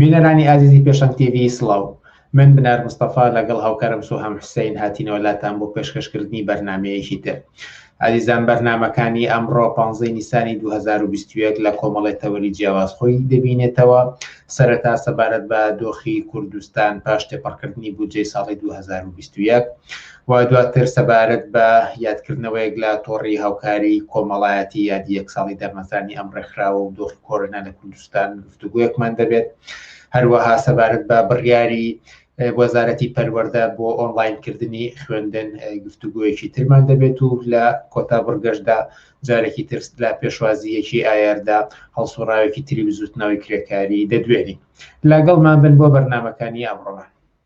بینەرانی ئازیزی پێشەنگ تیڤی سڵاو، من بنار مستەفا لەگەڵ هاوکارم سۆهام حوسەین هاتینەوە لاتان بۆ پێشکەشکردنی بەرنامەیەکی تر. ئازیزان بەرنامەکانی ئەمڕۆ پانزەی نیسانی دوو هەزار و بیست و یەک لە کۆمەڵی تەوەری جیاواز خۆی دەبینێتەوە، سەرەتا سەبارەت بە دۆخی کوردستان پاش تێپەڕکردنی بودجەی ساڵی دوو هەزار و بیست و یەک و دواتر سەبارەت بە یادکردنەوەیەک لە تۆڕی هاوکاری کۆمەڵایەتی یادی یەک ساڵی دامەزرانی ئەم ڕێکخراوە و دۆخی کۆرۆنا لە کوردستان گفتوگۆیەکمان دەبێت هەروەها سەبارەت بە بڕیاری وەزارەتی پەروەەردە بۆ ئۆنلاینکردنی خوێندن گفتوگویەکی ترمان دەبێت و لە کۆتا بڕگەشدا جارێکی ترس لە پێشوازیەکی ئایاردا هەڵسوڕاوێکی تری بزوتنەوەی کرێکاری دەدوێنین لاگەڵمان بن بۆ بەرنمەکانی ئەمڕۆمان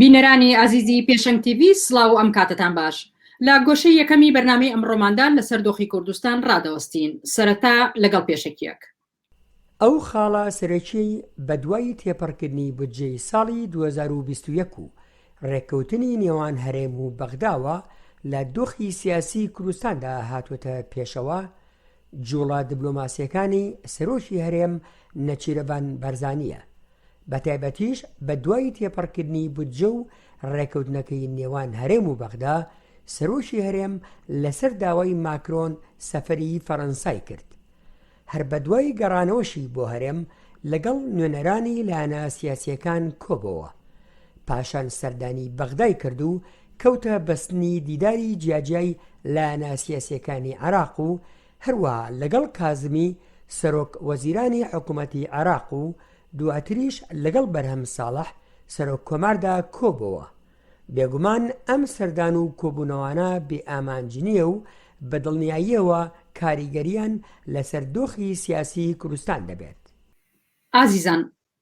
بینەرانی ئازیزی پێشەنگ تیڤی سڵاو و ئەم کاتتان باش لە گۆشەی یەکەمی بەرنمەی ئەمڕۆماندان لەسەر دۆخی کوردستان ڕادەوەستین سەرەتا لەگەڵ پێشەکیەک ئەو خاڵە سەرەکیی بەدوای تێپەڕکردنی بودجەی ساڵی 2021 و ڕێککەوتنی نێوان هەرێم و بەغداوە لە دۆخی سیاسی کوردستاندا هاتووەتە پێشەوە، جوڵە دبلۆماسییەکانی سەرۆکی هەرێم نێچیرەڤان بارزانییە، بەتایبەتیش بەدوای تێپەڕکردنی بودجە و رێککەوتنەکەی نێوان هەرێم و بەغدا، سەرۆکی هەرێم لەسەر داوای ماکرۆن سەفەری فەرەنسای کرد، هەر بەدوای گەڕانەوەشی بۆ هەرێم لەگەڵ نوێنەرانی لایەنە سیاسییەکان کۆبۆوە، پاشان سەردانی بەغدای کرد و کەوتە بەستنی دیداری جیاجیای لایەنە سیاسییەکانی عێراق و هەروەها لەگەڵ کازمی سەرۆک وەزیرانی حکوومەتی عێراق و دواتریش لەگەڵ بەرهەم ساڵح سەرۆک کۆماردا کۆبۆوە بێگومان ئەم سەردان و کۆبوونەوانە بێ ئامانج نییە و بە دڵنیاییەوە کاریگەریان لەسەر دۆخی سیاسی کوردستان دەبێت. ئازیزان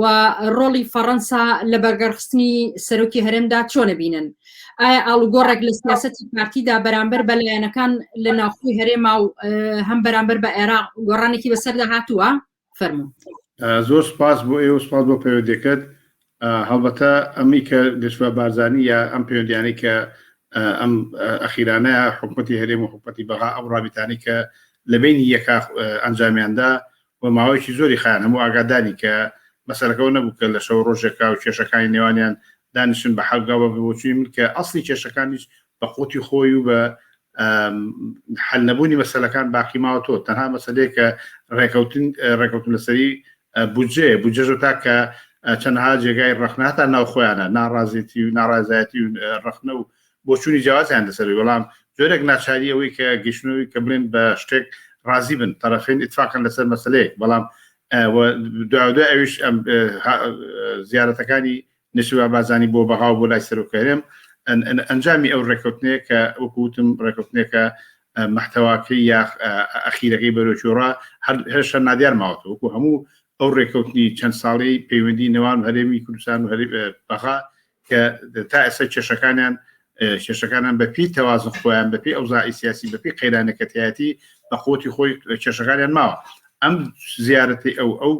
و ڕۆڵی فەڕەنسا لە بەرگەرخستنی سەرۆکی هەرێمدا چۆنە بینن ئایا ئاڵوگۆڕێک لە سیاستی پارتیدا بەرامبەر بە لایەنەکان لە ناوخۆی هەرێما و هەم بەرامبەر بە عێراق گۆڕانێکی بەسەردا هاتووە فەرمو زۆر سپاس بۆ ئێوە سپاس بۆ پەیوەندەکەت هەڵبەتە ئەمی کە گەشتە بارزانانی یا ئەم پەیوەندیانی کە ئەم ئەخیرانە حکوومەتتی هەرێم و حکوومەتتی بەغا ئەو ڕابیتانی کە لە بینی یەکا ئەنجامیاندا و ماوەیەکی زۆری خایان هەموو ئاگاداری کە مەسەلەکەو نەبوو کە لە شەو ڕۆژێکاو کێشەکانی نێوانیان دانیشن بە حەل گاو بە بۆچوی من کە ئەسڵی کێشەکانیش بە قوتی خۆی و بە حەل نەبوونی مەسەلەکان باقی ماوە تۆ تەنها مەسەلەیە کە ڕێکەوتن ڕێکەوتن لەسەری بودجێ بودجەژە تا کە چەندها جێگای ڕخناتا ناو خۆیانە ناڕازێتی و ناڕازایەتی و ڕخنە و بۆچوونی جیاوازیان لەسەر بەڵام جۆرێک ناچاری ئەوەی کە گەشتنەوەی کە بڵێن بە شتێک ڕازی بن تەرەفین ئیتفاقن لەسەر مەسلەیەک بەڵام دوای ئەوش زیارەتەکانی نشوا بازانی بۆ بەغا بۆ لای سەرۆکەرێم ئەنجامی ئەو ڕێکوتنەیە کە وەکوتم ڕێکوتنێکە محتەواکەی یا ئەخیرەکەی بەرۆچۆڕا هەرشە نادیار ماوەتە وەکو هەموو ئەو ڕێککەوتنی چەند ساڵی پەیوەندی نێوان هەرێمی کوردستان و هەری بەغا کە تا ئێستا کێشەکانیان کێشەکانان بەپی تەوازن خۆیان بەپی ئەوزای سیاسی بەپی قەیرانەکەتیایەتی بە قوتی خۆی کێشەکانیان ماوە ئەم زیارەتی ئەو ئەو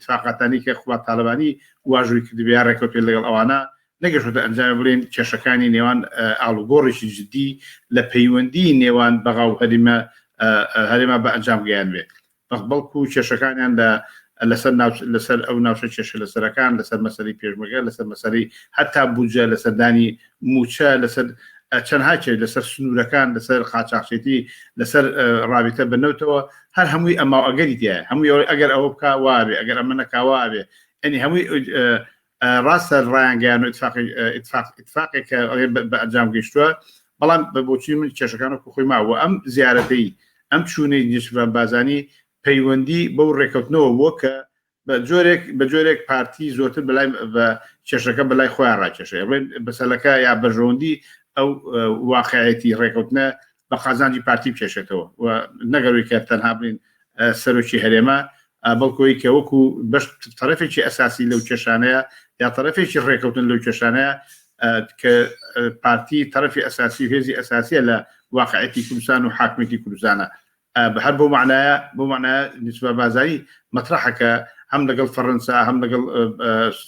تااقاتانی کە خوات تاالبانی واژووی کردبیا ڕێکوتێ لەگەڵ ئەوانە نەگەشتە ئەنجام بڵێن کێشەکانی نێوان ئالوگۆڕێکی جددی لە پەیوەندی نێوان بەغا و هەریمە هەرێما بە ئەنجام گەیان بێت بەڵکو کێشەکانیان لە لەسەر لەسەر ئەو ناوچە کێشە لەسەرەکان لەسەر مەسەری پێشمەگە لەسەر مەسەری هەتا بودجە لە سەردانی موچە لەسەر چەندها کێش لەسەر سنوورەکان لەسەر قاچاخچێتی لەسەر رابطە بنەوتەوە هەر هەمووی ئەما ئەگەری دیە هەمووی ئەگەر ئەوە بک واێ ئەگەر ئەمە نەکاواێ ئەنی هەمووی ڕاستە ڕایانگەیان و اتفاقێک کە بە ئەنجام گەشتووە بەڵام بە بۆچی من کێشەکان و خۆی ماوە ئەم زیارەتەی ئەم چوونەی دیشفران بازانی پەیوەندی بەو ڕێکەوتنەوە بووە کە بە جۆرێک بە جۆرێک پارتی زۆرتر بەلای بە کێشەکە بەلای خۆیان ڕاکێشێ بەسەلەکە یا بەژەوەندی ئەو واقعەتی ڕێکەوتنە بە قازانجی پارتی بکێشێتەوە و نەگەروی کە تەنها بین سەرۆکی هەرێمە بەڵکۆی کە وەکو بەش تەرەفێکی ئەساسی لەو کێشانەیە یا تەرەفێکی ڕێکەوتن لەو کێشانەیە کە پارتی تەرەفی ئەساسی هێزی ئەساسیە لە واقعەتی کوردستان و حاکمێتی کوردستانە بە هەر بۆ معناە بۆ معناە نسبە بازایی مەترحەکە هەم لەگەڵ فەڕەنسا هەم لەگەڵ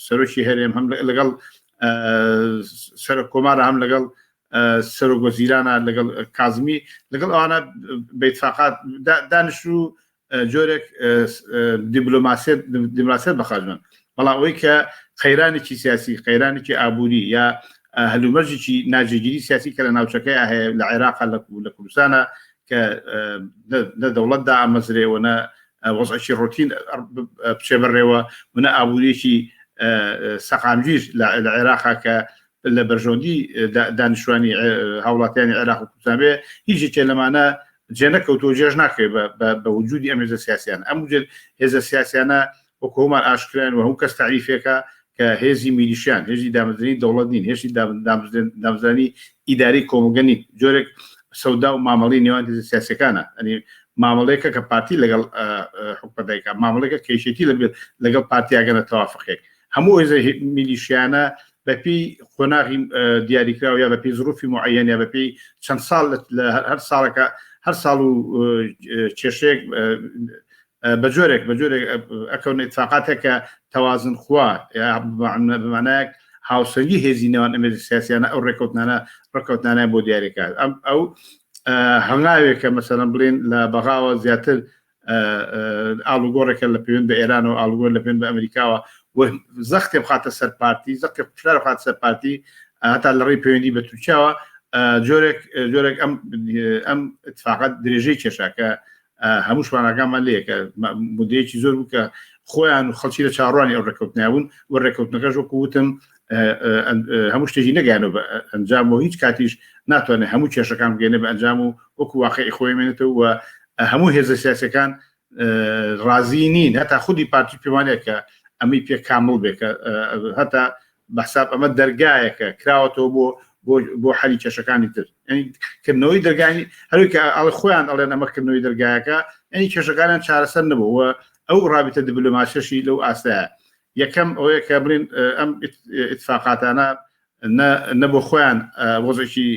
سەرۆکی هەرێم هەم لەگەڵ سەر کۆمارە هەم لەگەڵ سەرۆک وەزیرانە لەگەڵ کازمی لەگەڵ ئەوانە بە ئیتفاقات دانیشتن و جۆرێک دیبلۆماسیەت دیماسیەت بەخاجمن بەڵام ئەوەی کە قەیرانێکی سیاسی قەیرانێکی ئابووری یا هەلومەرجێکی ناجێگیری سیاسی کە لە ناوچەکەی هەیە لە عێراق لە لە کوردستانە کە لە دەوڵەتدا ئامەزرێوەە وەزعکی ڕۆتین بچێ بەڕێوە منە ئابووریەکی سەقامگیر لە عێراقا کە لە بەرژەوەندی دانیشتوانی هاوڵاتیانی عێراق و کوردستان بێ هیچ یەکێ لەمانە جێ نەکەوتو و جێژ ناکرێت بە وجودی ئەم هێزە سیاسیانە ئەم وجود هێزە سیاسیانە وەکو هەمان ئاشکران و هەموو کەس تعریفێکە کە هێزی میلیشیان هێزی دامەزرێنی دەوڵەت نین هێزی دامزرانی ئیداری کۆمەڵگە نین جۆرێک سەودا و مامەڵی نێوان هێزە سیاسەکانە ئەنی مامەڵێکە کە پارتی لەگەڵ حکومەتەکە مامەڵێکە کێشێتی لەبێت لەگەڵ پارتیاگەنە تەوافقێک هەموو هێزە میلیشیانە بە پێی قۆناغی دیاریکراو یا بە پێی زروفی معەن یا بە پێی چەند ساڵ لە هەر ساڵەکە هەر ساڵ و کێشێک بە جۆرێک بە جۆرێک ئەکەون اتفاقاتێک کە تەوازن خوا بمانایەک هاوسەنگی هێزی نێوان ئەمێ سیاسیانە ئەو ڕێکوتنانە ڕکوتنانە بۆ دیارەکە ئەم ئەو هەنگاوێکە مەسەرم بڵێن لە بەغاوە زیاتر ئاڵوگۆڕێکە لە پێوێن بە ئێرانەوە ئاڵگۆر لە پێن بە ئەمریکاوە زەختێ بخاتە سەر پارتی زەختی قوشار خات سەر پارتی هەتا لە ڕێی پەیوەندی بە تورکیاوە جۆرێک جۆرێک ئەم ئەم اتفاقات درێژەی کێشاکە هەموو شوانەکانمان لەیەکە مدەیەکی زۆر بوو کە خۆیان و خەڵکی لە چاڕوانی ئەو ڕێککەوتنیابوون و ڕێککەوتنەکەش وەکو وتم هەموو شتێکی نەگەیانەوە بە ئەنجام و هیچ کاتیش ناتوانێت هەموو کێشەکان بگەێنە بە ئەنجام و وەکو واقعی خۆی مێنێتەوە و هەموو هێزە سیاسەکان ڕازی نین هەتا خودی پارتی پێوانەیەکە ئەمەی پێ کامل بێکە هەتا بەحساب ئەمە دەرگایەکە کراوەتەوە بۆ بۆ حەلی کێشەکانی تر کردنەوەی دەرگانی هەروکە ئەڵ خۆیان ئەڵێن ئەمەکردنەوەی دەرگایەکە ئەنی کێشەکانیان چارەسەر نەبووە ئەو ڕابتە دیبلوماسیشی لەو ئاستەیە یەکەم ئەوەیە کە بڵین ئەم اتفاقاتانە نە بۆ خۆیان وەزێکی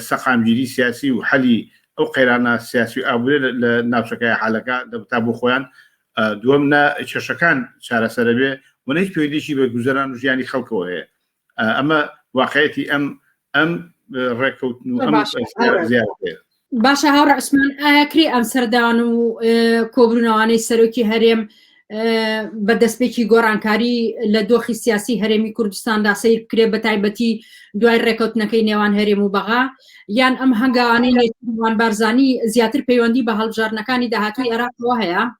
سەقامگیری سیاسی و حەلی ئەو قەیرانە سیاسی و ئابورێ لە ناوچەکەی حالەکە دەبتا بۆ خۆیان دووەم نە کێشەکان چارەسەرە بێ ونەیت پێویدێکی بە گوزەران و ژیانی خەڵکەوە هەیە ئەمە واقعەتی ئەم ئەم ڕێکەوتن باشە هاو ڕسمان ئاکرێ ئەم سەردان و کۆبرونەوانەی سەرۆکی هەرێم بە دەستپێکی گۆڕانکاری لە دۆخی سیاسی هەرێمی کوردستاندا سیر بکرێ بە تایبەتی دوای ڕێکەوتنەکەی نێوان هەرێم و بەغا یان ئەم هەنگاوانەی نێوان بارزانی زیاتر پەیوەندی بە هەڵبژاردنەکانی داهاتوی عێراقەوە هەیە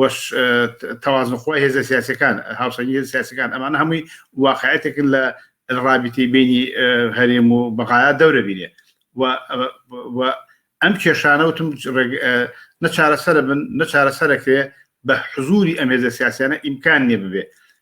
وەش تەوازن خۆی هێزە سیاسەکان هاوسەنگی هێز سیاسەکان ئەمانە هەمووی واقعەتێکن لە ڕابیتی بینی هەرێم و بەغایا دەورە بینێ ئەم کێشانەوتم نەچارەسەر بن نەچارەسەرەکرێ بە حزوری ئەم هێزە سیاسیانە ئیمکان نیە ببێ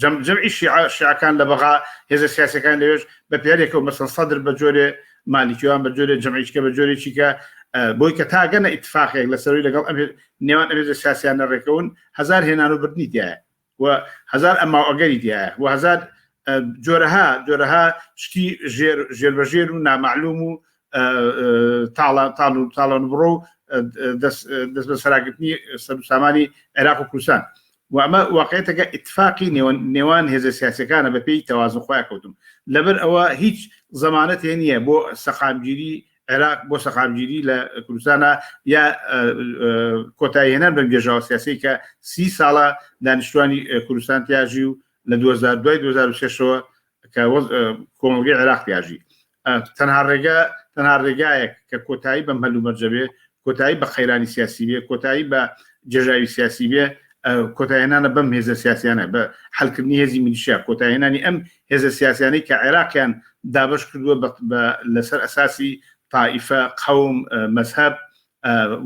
جەم جەمعی شیعە شیعەکان لە بەغا هێزە سیاسەکان لەوێش بە پیارێکەوە مەسەن سەدر بە جۆرێ مالیکیوان بە جۆرێ جەمعیشکە بە جۆرێکی کە بۆی کە تاگەنە ئیتفاقێک لە سەروی لەگەڵ ئەم نێوان ئەمێزە سیاسیانە ڕێکەون هزار هێنان و بردنی دیایە و هزار ئەما ئەگەری دیایە و هزار جۆرەها جۆرەها شتی ژێر ژێر بە ژێر و نامەعلوم و تاڵە تاڵ و تاڵەن بڕۆ و دەست بە سەراگرتنی سەرسامانی عێراق و کوردستان و ئەمە واقعیەتەکە ئیتفاقی نێوان نێوان هێزە سیاسیەکانە بە پێی تەوازن خۆیان کەوتوون لەبەر ئەوە هیچ زەمانەتێ نییە بۆ سەقامگیری عێراق بۆ سەقامگیری لە کوردستانە یا کۆتایی هێنان بەم گێژاوە سیاسی کە سی ساڵە دانیشتوانی کوردستان تیاژی و لە 2000 دوای 2006ەوە کە کۆمەلگەی عێراق پیاژی تەنها ڕێگە تەنها ڕێگایەک کە کۆتایی بەم هەلو مەرجەبێ کۆتایی بە قەیرانی سیاسی بێ کۆتایی بە جێژاوی سیاسی بێ کۆتایێنانە بەم هێزە سیاسیانە بە حلکردنی هێزی میلیشیا کۆتایێنانی ئەم هێزە سیاسیانەی کە عێراقیان دابش کردووە لەسەر ئەساسی تائیفە قەوم مەذهب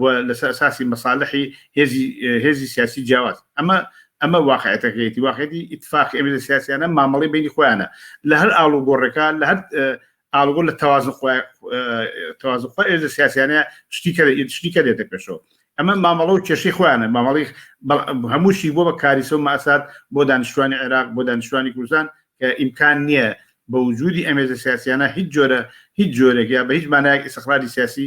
و لەسەر ئەساسی مەسالحی هێزی هێزی سیاسی جیاواز ئەمە ئەمە واقعەتەکەیەتی واقعێتی ئیتفاق ئەمێزە سیاسیانە مامەڵی بینی خۆیانە لە هەر ئاڵوگۆڕێکە لە هەر ئاڵگۆ لە تەوازن تەوازن خۆ ئێزە سیاسیانە شتی کە شتی کە دێتە پێشەوە ئەمە مامەڵە و کێشی خۆیانە مامەڵی هەمووشی بۆ بە کاریسە و ماسات بۆ دانیشتوانی عێراق بۆ دانیشتوانی کوردستان کە ئیمکان نییە بە وجودی ئەمێزە سیاسیانە هیچ جۆرە هیچ جۆرێک یا بە هیچ مانایەک ئیسخراجی سیاسی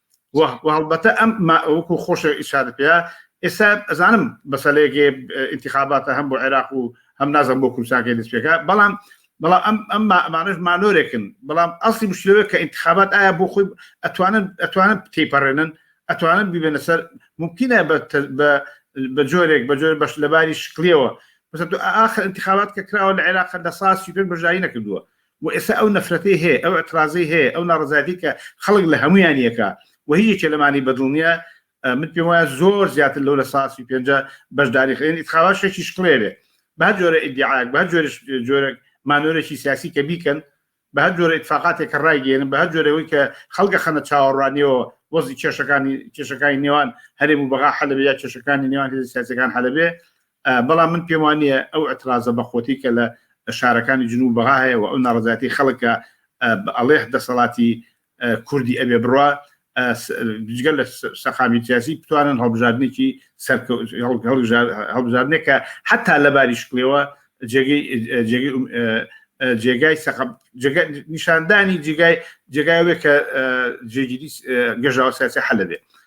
وەڵبەتە ئەم وەکو خۆشە ئیشارە پێ ئێستا ئەزانم بەسەلێکێ انتخاباتە هەم بۆ عێراق و هەم نازم بۆ کوردستانکە دەست پێکە بەڵام بەڵام ئەم ئەم ئەمانش مانۆرێکن بەڵام ئەسی مشتەوە کە انتخابات ئایا بۆ خۆی ئەتوانن ئەتوانن تێپەڕێنن ئەتوانن ببێنە سەر ممکنە بە جۆرێک بە جۆر بەش لەباری شکلیەوە بەس ئاخر انتخابات کە کراوە لە عێراق لە ساسی پێ بەژایی نەکردووە و ئێستا ئەو نەفرەتەی هەیە، ئەو ئیعترازەی هەیە، ئەو ناڕەزایەتەی کە خەڵک لە هەموویان یەکە و هیچ یەکێ لەمانی بە دڵ نییە، من پێم وایە زۆر زیاتر لەو لە سا سی و پێنج بەشداری خەیەن ئیتخابات شەکی شکڵێ بێ بە هەر جۆرە ئیدیعایەک بە هەر جۆرش جۆرەک مانۆرێکی سیاسی کە بیکەن بە هەر جۆرە ئیتفاقاتێک کە ڕایگەێنن بە هەر جۆرەوەی کە خەڵگە خەنە چاوەڕوانیەوە وەزی کێشەکانی کێشەکانی نێوان هەرێم و بەغا حەلەبێ یا کێشەکانی نێوان هێز سیاسەکان حەلەبێ بەڵام من پێم وا نییە ئەو ئەترازە بە خۆتی کە لە شارەکانی جنوو بەغا هەیە و ئەو ناڕزاتی خەڵکە بە ئەڵێه دەسەڵاتی کوردی ئەبێ بڕە جگەل لە سەقامی سیاسی بتوانن هەڵبژاردنێکی هەڵبژاردنێکە حتا لە باری شکلەوە جێگای سەقب نیشاندانی جێگای جێگاوێک کە جێگیری گەژاوە سیاسی حەلەبێ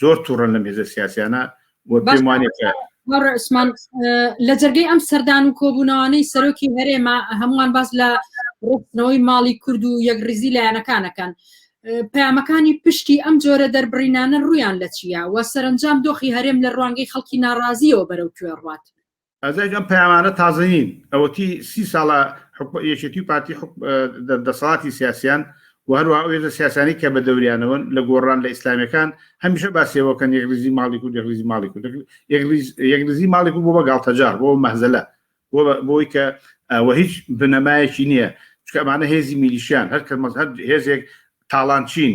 زۆر توڕن لەم هێزە سیاسیانە وە پێم وانێت کە ڕسمان لە جەرگەی ئەم سەردان و کۆبوونەوانەی سەرۆکی هەرێمە هەمووان باس لە ڕستنەوەی ماڵی کورد و یەکڕیزی لایەنەکانەکەن پامەکانی پشتی ئەم جۆرە دەربڕینانە ڕویان لە چیە و سەرنجام دۆخی هەرێم لە ڕوانگەی خەڵکی ناڕازیەوە بەرەو کوێ ڕات ئەزەک ئەم پەیامانە تازە نین ئەوەتی سی ساڵە یەکێتی و پارتی دەسەڵاتی سیاسیان و هەروە ئەوێزە سیاسانی کە بە دەوریانەوەن لە گۆڕان لە ئیسلامەکان هەمیشە باسیەوەکەن یەکریزی ماڵی و یەکریزی ماڵی و یەکریزی ماڵی و بۆ بە گاڵتەجار بۆ مەزلە بۆی کە وە هیچ بنەمایەکی نییە چکەمانە هێزی میلیشیان هەر کە مەزهر هێزێک تاڵانچین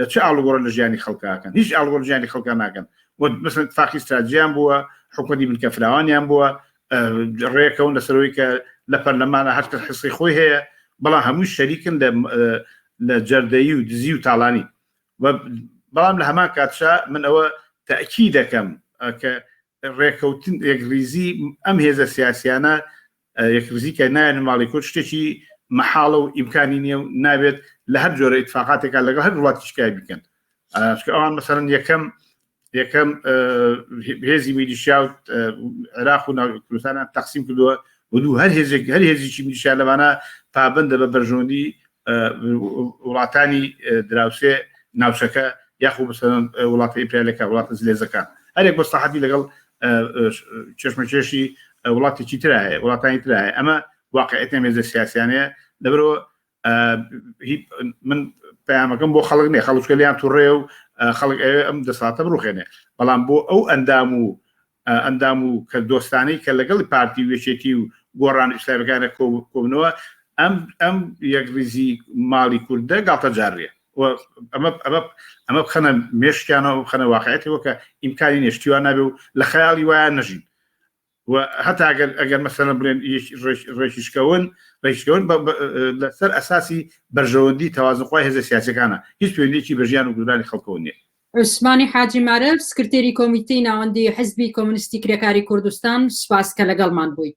لە چ ئاڵوگۆڕە لە ژیانی خەڵکا ئەکەن هیچ ئاڵوگۆڕ لە ژیانی خەڵکا ناکەن و مەسەن اتفاقی ستراتژیان بووە حکومەتی بنکە فراوانیان بووە ڕێکەون لەسەرەوەی کە لە پەرلەمانە هەر کەس حسی خۆی هەیە بەڵام هەمووی شەریکن لە لە جەردەیی و دزی و تاڵانی بەڵام لە هەمان کاتشا من ئەوە تاکی دەکەم کە ڕێکەوتن یەکریزی ئەم هێزە سیاسیانە یەکرزی کە نایەن ماڵی کورد شتێکی مەحاڵە و ئیمکانی نیە و نابێت لە هەر جۆرە اتفاقاتێکا لەگەڵ هەر وڵاتی شکای بکەن ئەوان مەسەرن یەکەم یەکەم هێزی میلیشیا و عێراق و ناوکردستانە تەقسیم کردووە و دوو هەر هێزێک هەر هێزیی میلیشیا لەوانە پابندە بە بەرژۆندی وڵاتانی دراوسێ ناوچەکە یاخو بەسەر وڵاتە ئیپریالەکە وڵاتە زلێزەکان هەرێک بەستاحەتی لەگەڵ چێشمەکێشی وڵاتێکی ترا هەیە وڵاتانی ترا هەیە ئەمە واقعێتە مێزە سیاسیانەیە لەبرەوە من پامەکەم بۆ خەڵک نێ خەڵچکە لیان توڕێ و خەڵک ئەوێ ئەم دەساتە بڕوخێنێ بەڵام بۆ ئەو ئەندام و ئەندام و کە دۆستانی کە لەگەڵی پارتی وێچێتی و گۆڕان ئیسلامیەکانە کۆبنەوە ئەم ئەم یەکریزی ماڵی کوردە گاڵتە جارێ ئەمە بخەنە مێشکیانەوە بخەنە واقعەتی وەکە ئیمکانی نێشتیوان نابێ و لە خەیاڵی وایە نەژین هەتا ئەگەر ئەگەر مەسەنە بڵێن ڕێکیشکەون ڕێکشکەون لەسەر ئەساسی بەرژەوەندی تەوازنخوای هێزە سیاسەکانە هیچ پوێنێکی بە ژیان و گودرانی خەڵکەوە نیە عوسمانی حاجی مارەف سکرتێری کۆمیتەی ناوەندی حزبی کۆمنیستی کرێکاری کوردستان سپاس کە لەگەڵمان بوویت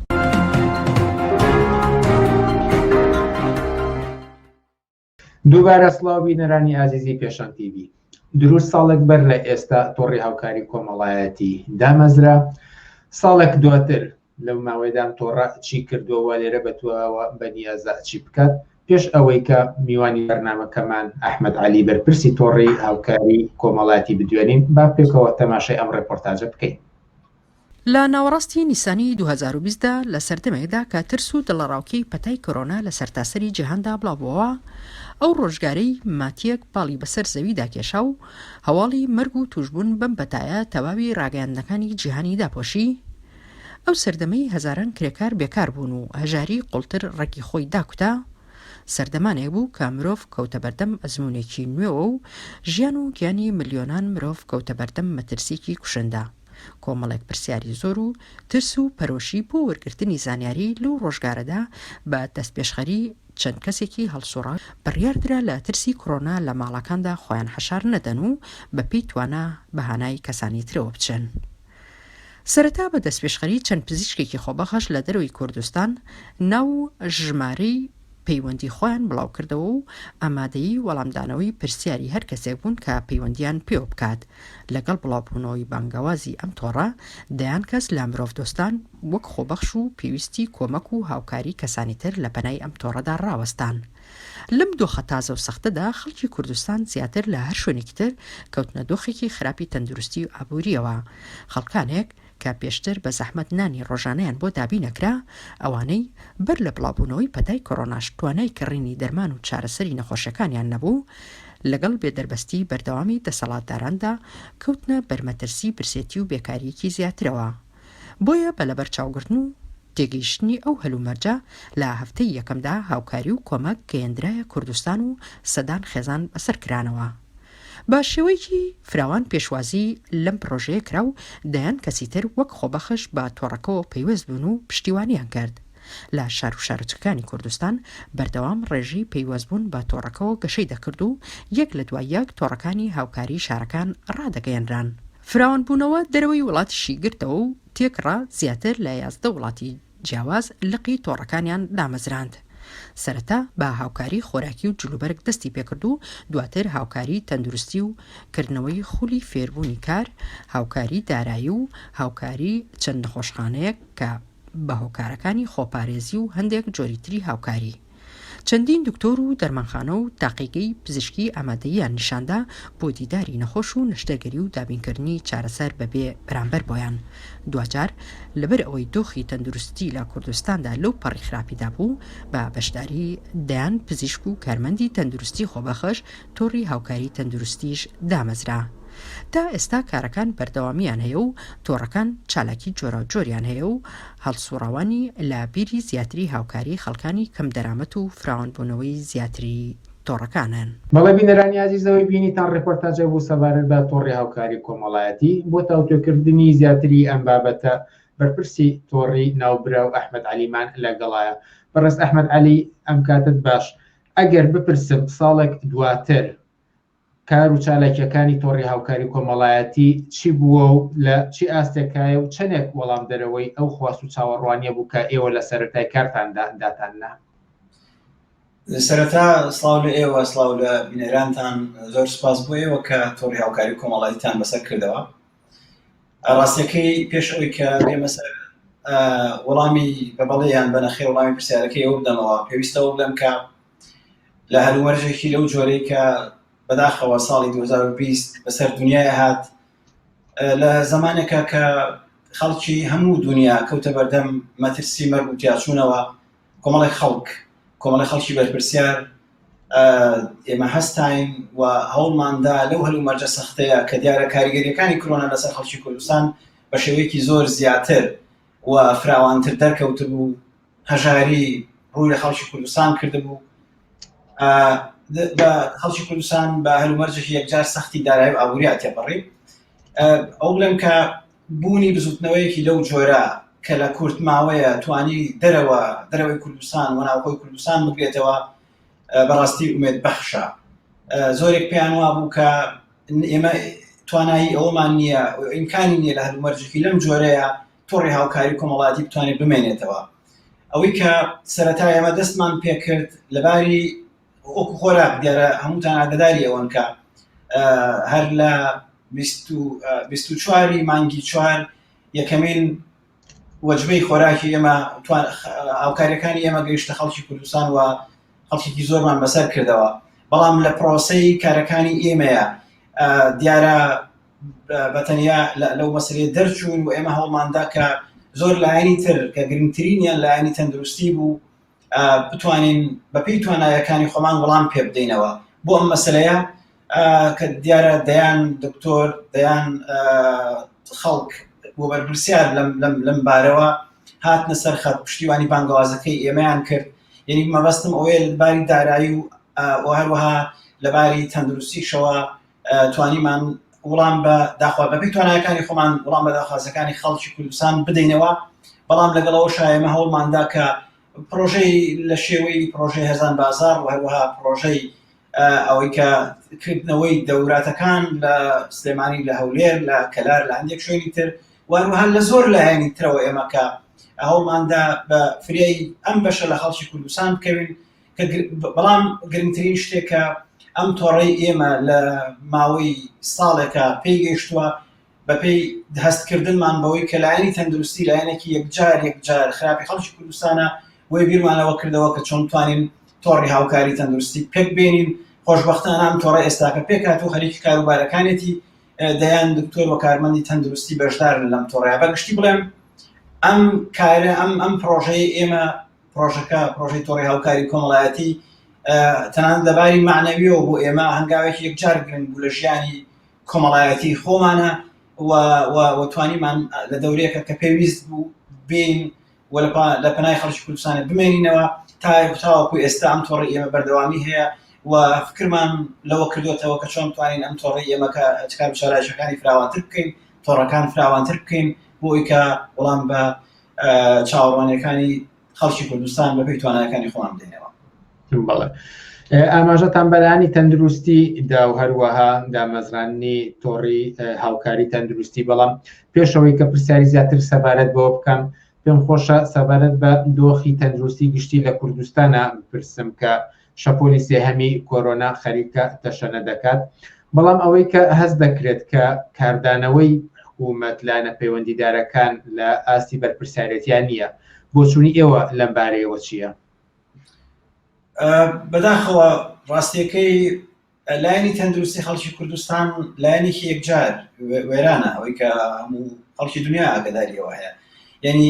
دووبارە سڵاو بینەرانی ئازیزی پێشان تیبی دروست ساڵێک بەر لە ئێستا تۆڕی هاوکاری کۆمەڵایەتی دامەزرا ساڵێک دواتر لەو ماوەیدام تۆڕە چی کردووە لێرە بەتوەوە بەنیازە چی بکات پێش ئەوەی کە میوانی بەرنمەکەمان ئەحمد علی بەرپرسی تۆڕی هاوکاری کۆمەڵاتی بدوێنین با پێکەوە تەماشای ئەم ڕێپۆرتاجە بکەین لە ناوەڕاستی نیسانی دوو هەزار و بیست دا، لە سەردەمێکدا کە ترس و دڵەڕاوکێی پەتای کۆرۆنا لە سەرتاسەری جیهاندا بڵاوبووەوە، ئەو ڕۆژگارەی ماتییەک پاڵی بەسەر زەویدا کێشا و هەواڵی مەرگ و تووشبوون بەم پەتایە تەواوی ڕاگەیاندنەکانی جیهانی داپۆشی، ئەو سەردەمەی هەزاران کرێکار بێکار بوون و هەژاری قوڵتر ڕەگی خۆی داکوتا، سەردەمانێک بوو کە مرۆڤ کەوتە بەردەم ئەزموونێکی نوێوە و ژیان و گیانی ملیۆنان مرۆڤ کەوتە بەردەم مەترسییەکی کوشندە. کۆمەڵێک پرسیاری زۆر و ترس و پەرۆشی بۆ وەرگرتنی زانیاری لەو ڕۆژگارەدا بە دەستپێشخەری چەند کەسێکی هەڵسوڕا بڕیاردرا لە ترسی کڕۆنا لە ماڵەکاندا خۆیان حەشار نەدەن و بە پێی توانا بە هانای کەسانی ترەوە بچن. سەرەتا بە دەستپێشخەری چەند پزیشکێکی خۆبەخش لە دەرەوەی کوردستان ناو و ژمارەی پەیوەندی خۆیان بڵاوکردەوە و ئامادەی وەڵامدانەوەی پرسیاری هەر کەسێک بوون کە پەیوەندیان پێوە بکات لەگەڵ بڵاوبوونەوەی بانگەوازی ئەم تۆڕە دەیان کەس لە مرۆڤ دۆستان وەک خۆبەخش و پێویستی کۆمەک و هاوکاری کەسانی تر لە پەنای ئەم تۆڕەدا ڕاوەستان لەم دۆخە تازە و سەختەدا خەڵکی کوردستان زیاتر لە هەر شوێنێکی تر کەوتنە دۆخێکی خراپی تەندروستی و ئابووریەوە خەڵکانێک کە پێشتر بە زەحمەت نانی ڕۆژانەیان بۆ دابین ئەکرا، ئەوانەی بەر لە بڵاوبوونەوەی پەتای کۆرۆناش توانای کڕینی دەرمان و چارەسەری نەخۆشەکانیان نەبوو، لەگەڵ بێ دەربەستی بەردەوامی دەسەڵاتداراندا کەوتنە بەر مەترسی برسێتی و بێکارییەکی زیاترەوە. بۆیە بە لەبەرچاوگرتن و تێگەیشتنی ئەو هەلومەرجە لە هەفتەی یەکەمدا هاوکاری و کۆمەک گەیەندرایە کوردستان و سەدان خێزان بەسەر کرانەوە بە شێوەیەکی فراوان پێشوازی لەم پڕۆژەیە کرا و دەیان کەسی تر وەک خۆبەخش بە تۆڕەکەوە پەیوەست بوون و پشتیوانیان کرد. لە شار و شارۆچکەکانی کوردستان بەردەوام ڕێژەی پەیوەستبوون بە تۆڕەکەوە گەشەی دەکرد و یەک لە دوای یەک تۆڕەکانی هاوکاریی شارەکان ڕادەگەیەنران. فراوانبوونەوە دەرەوەی وڵاتیشی گرتەوە و تێکڕا زیاتر لە یازدە وڵاتی جیاواز لقی تۆڕەکانیان دامەزراند. سەرەتا بە هاوکاری خۆراکی و جلوبەرگ دەستی پێکرد و دواتر هاوکاری تەندروستی و کردنەوەی خولی فێربوونی کار، هاوکاری دارایی و هاوکاری چەند نەخۆشخانەیەک کە بە هۆکارەکانی خۆپارێزی و هەندێک جۆری تری هاوکاری. چەندین دکتۆر و دەرمانخانە و تاقیگەی پزیشکی ئامادەییان نیشاندا بۆ دیداری نەخۆش و نەشتەرگەری و دابینکردنی چارەسەر بەبێ بەرامبەر بۆیان دواجار لەبەر ئەوەی دۆخی تەندروستی لە کوردستاندا لەو پەڕی خراپیدا بوو بە بەشداری دەیان پزیشک و کارمەندی تەندروستی خۆبەخش تۆڕی هاوکاری تەندروستیش دامەزرا. تا ئێستا کارەکان بەردەوامییان هەیە و تۆڕەکان چالاکی جۆراوجۆریان هەیە و هەڵسوڕاوانی لە بیری زیاتری هاوکاری خەڵکانی کەم دەرامەت و فراوانبوونەوەی زیاتری تۆڕەکانن. بەڵێ بینەرانی ئازیز ئەوەی بینیتان ڕێپۆرتاجێک بوو سەبارەت بە تۆڕی هاوکاری کۆمەڵایەتی، بۆ تاوتوێکردنی زیاتری ئەم بابەتە بەرپرسی تۆڕی ناوبراو ئەحمەد عەلیمان لەگەڵاە. بەڕێز ئەحمەد عەلی ئەم کاتەت باش. ئەگەر بپرسم ساڵێک دواتر کار و چالاکییەکانی تۆڕی هاوکاری کۆمەڵایەتی چی بووە و لە چی ئاستێکایە و چەندێک وەڵامدەرەوەی ئەو خواست و چاوەڕوانییە بوو کە ئێوە لە سەرەتای کارتاندا داتان نا؟ سەرەتا سڵاو لە ئێوە، سڵاو لە بینەرانتان، زۆر سوپاس بۆ ئێوە کە تۆڕی هاوکاری کۆمەڵایەتیتان بەسەر کردەوە. ڕاستەکەی پێش ئەوی کە بێمە سەر وەڵامی بە بەڵێیان بە نەخێ وەڵامی پرسیارەکەی ئەو بدەمەوە پێویستەوە بڵێم کە لە هەلومەرجێکی لەو جۆرەی کە بەداخەوە ساڵی 2020 بەسەر دنیای هات لە زمانێکە کە خەڵکی هەموو دنیا کەوتە بەردەم مەترسی مەرگ و تیاچوونەوە کۆمەڵی خەڵک کۆمەڵی خەڵکی بەرپرسیار ئێمە هەستین و هەوڵماندا لەو هەلو مەرجە سەختەیە کە دیارە کاریگەریەکانی کرۆنا لەسەر خەڵکی کوردستان بە شێوەیەکی زۆر زیاتر و فراوانتر دەرکەوت بوو هەژاری ڕووی لە خەڵکی کوردستان کرد بوو بە خەڵکی کوردستان بە هەلومەرجێکی یەکجار سەختی دارای و ئابووری تێپەڕی ئەو بڵێم کە بوونی بزوتنەوەیەکی لەو جۆرە کە لە کورت ماوەیە توانی دەرەوە دەرەوەی کوردستان و ناوخۆی کوردستان بگرێتەوە بەڕاستی ئومێد بەخشە زۆرێک پێیان وابوو کە ئێمە توانایی ئەومان نییە ئیمکانی نییە لە هەلومەرجێکی لەم جۆرەیە تۆڕی هاوکاری کۆمەڵاتی بتوانێت بمێنێتەوە ئەوەی کە سەرەتا ئێمە دەستمان پێکرد لەباری وەکو خۆراک دیارە هەمووتان ئاگداری ئەوەن کە هەر لە بیست و بیست و چوار ی مانگی چوار یەکەمین وەجبەی خۆراکی ئێمە توان هاوکاریەکانی ئێمە گەیشتە خەڵکی کوردستان و خەڵکیکی زۆرمان بەسەر کردەوە بەڵام لە پرۆسەی کارەکانی ئێمەیە دیارە بەتەنیا لەو مەسلێ دەرچوون و ئێمە هەوڵماندا کە زۆر لایەنی تر کە گرنگترینیان لایەنی تەندروستی بوو بتوانین بەپی توانایەکانی خۆمان وەڵام پێ بدەینەوە بۆ ئەم مەسلەیە کە دیارە دەیان دکتۆر دەیان خەڵک بۆ بەرپرسیار لەم بارەوە هاتنە سەر خەت پشتیوانی بانگەوازەکەی ئێمەیان کرد یعنی مەبەستم ئەوەیە باری دارایی و هەروەها لەباری تەندروستیشەوە توانیمان وڵام بە داخوا بەپی توانایەکانی خۆمان وڵام بە داخوازەکانی خەڵکی کوردستان بدەینەوە بەڵام لەگەڵەوە شایمە هەوڵماندا کە پرۆژەی لە شێوەی پرۆژەی هەزان بازار و هەروەها پرۆژەی ئەوەی کە کردنەوەی دەوراتەکان لە سلێمانی لە هەولێر لە کەلار لە هەندێک شوێنی تر وهروها لە زۆر لایەنی ترەوە ئێمەکە هەوڵماندا بە فریای ئەم بەشە لە خەڵکی کوردستان بکەوین بەڵام گرنگترین شتێکە ئەم تۆڕەی ئێمە لە ماوەی ساڵێکە پێی گەیشتووە بەپێی هەستکردنمان بەوەی کە لایەنی تەندروستی لایەنێکی یەکجار یەکجار خراپی خەڵکی کوردستانە بۆی بیرمانەوە کردەوە کە چۆن توانین تۆڕی هاوکاری تەندروستی پێک بێنین خۆشببختان ئەم تۆڕە ئێستاکە پێکات و خەریکی کاروبارەکانێتی دەیان دکتۆر و کارمەندی تەندروستی بەشدارن لەم تۆڕیا بەگشتی بڵێم ئەم کارە ئەم ئەم پرۆژەی ئێمە پرۆژەکە پرۆژەی تۆڕی هاوکاری کۆمەڵایەتی تەنان لەباری معنەویەوە بۆ ئێمە هەنگاوێکی یەکجار گرنگ بوو لە ژیانی کۆمەڵایەتی خۆمانە وتوانیمان لە دەورەیەکە کە پێویست بوو بین و لە پەنای خەڵکی کوردستانە بمێنینەوە تا تاوەکو ئێستا ئەم تۆڕی ئێمە بەردەوامی هەیە و فکرمان لەوە کردوێتەوە کە چۆن توانین ئەم تۆڕی ئێمەکە چکار شارایشەکانی فراوانتر بکەین تۆڕەکان فراوانتر بکەین بۆ ئەوی کە وەڵام بە چاوەڕوانیەکانی خەڵکی کوردستان بەپی توانەکانی خۆم دێنەوە بەڵێ ئاماژەتان بەلانی تەندروستی دا و هەروەها دامەزراننی تۆڕی هاوکاری تەندروستی بەڵام پێشەوەی کە پرسیاری زیاتر سەبارەت بۆ بکەم پێم خۆشە سەبارەت بە دۆخی تەندروستی گشتی لە کوردستانە بپرسم کە شەپۆلی سێهەمی کۆرۆنا خەریکە تەشەنە دەکات، بەڵام ئەوەی کە هەست دەکرێت کە کاردانەوەی حکومەت، لایەنە پەیوەندیدارەکان لە ئاستی بەرپرسیارێتیان نییە. بۆچوونی ئێوە لەم بارەیەوە چییە؟ بەداخەوە ڕاستیەکەی لایەنی تەندروستی خەڵکی کوردستان لایەنێکی یەکجار وێرانە ئەوەی کە هەموو خەڵکی دنیا ئاگداریەوە هەیە یعنی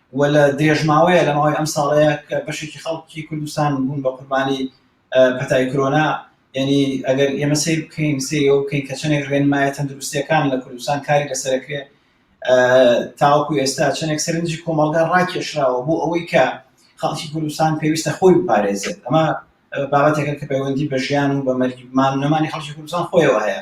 و لە درێژماوەیە لە ماوەی ئەم ساڵەیە کە بەشێکی خەڵکی کوردستان بوون بە قوربانی پەتای کرۆنا یعنی ئەگەر ئێمە سیر بکەین سیرەوە بکەین کە چنێک ڕێنمایە تەندروستەکان لە کوردستان کاری لەسەرکرێ تاوەکو ئێستا چنێک سەرنجی کۆمەڵگا ڕاکێشراوە بۆ ئەوەی کە خەڵکی کوردستان پێویستە خۆی بپارێزێت ئەمە بابەتێکە کە پەیوەندی بە ژیان و بە مەرگمان نەمانی خەڵکی کوردستان خۆیەوە هەیە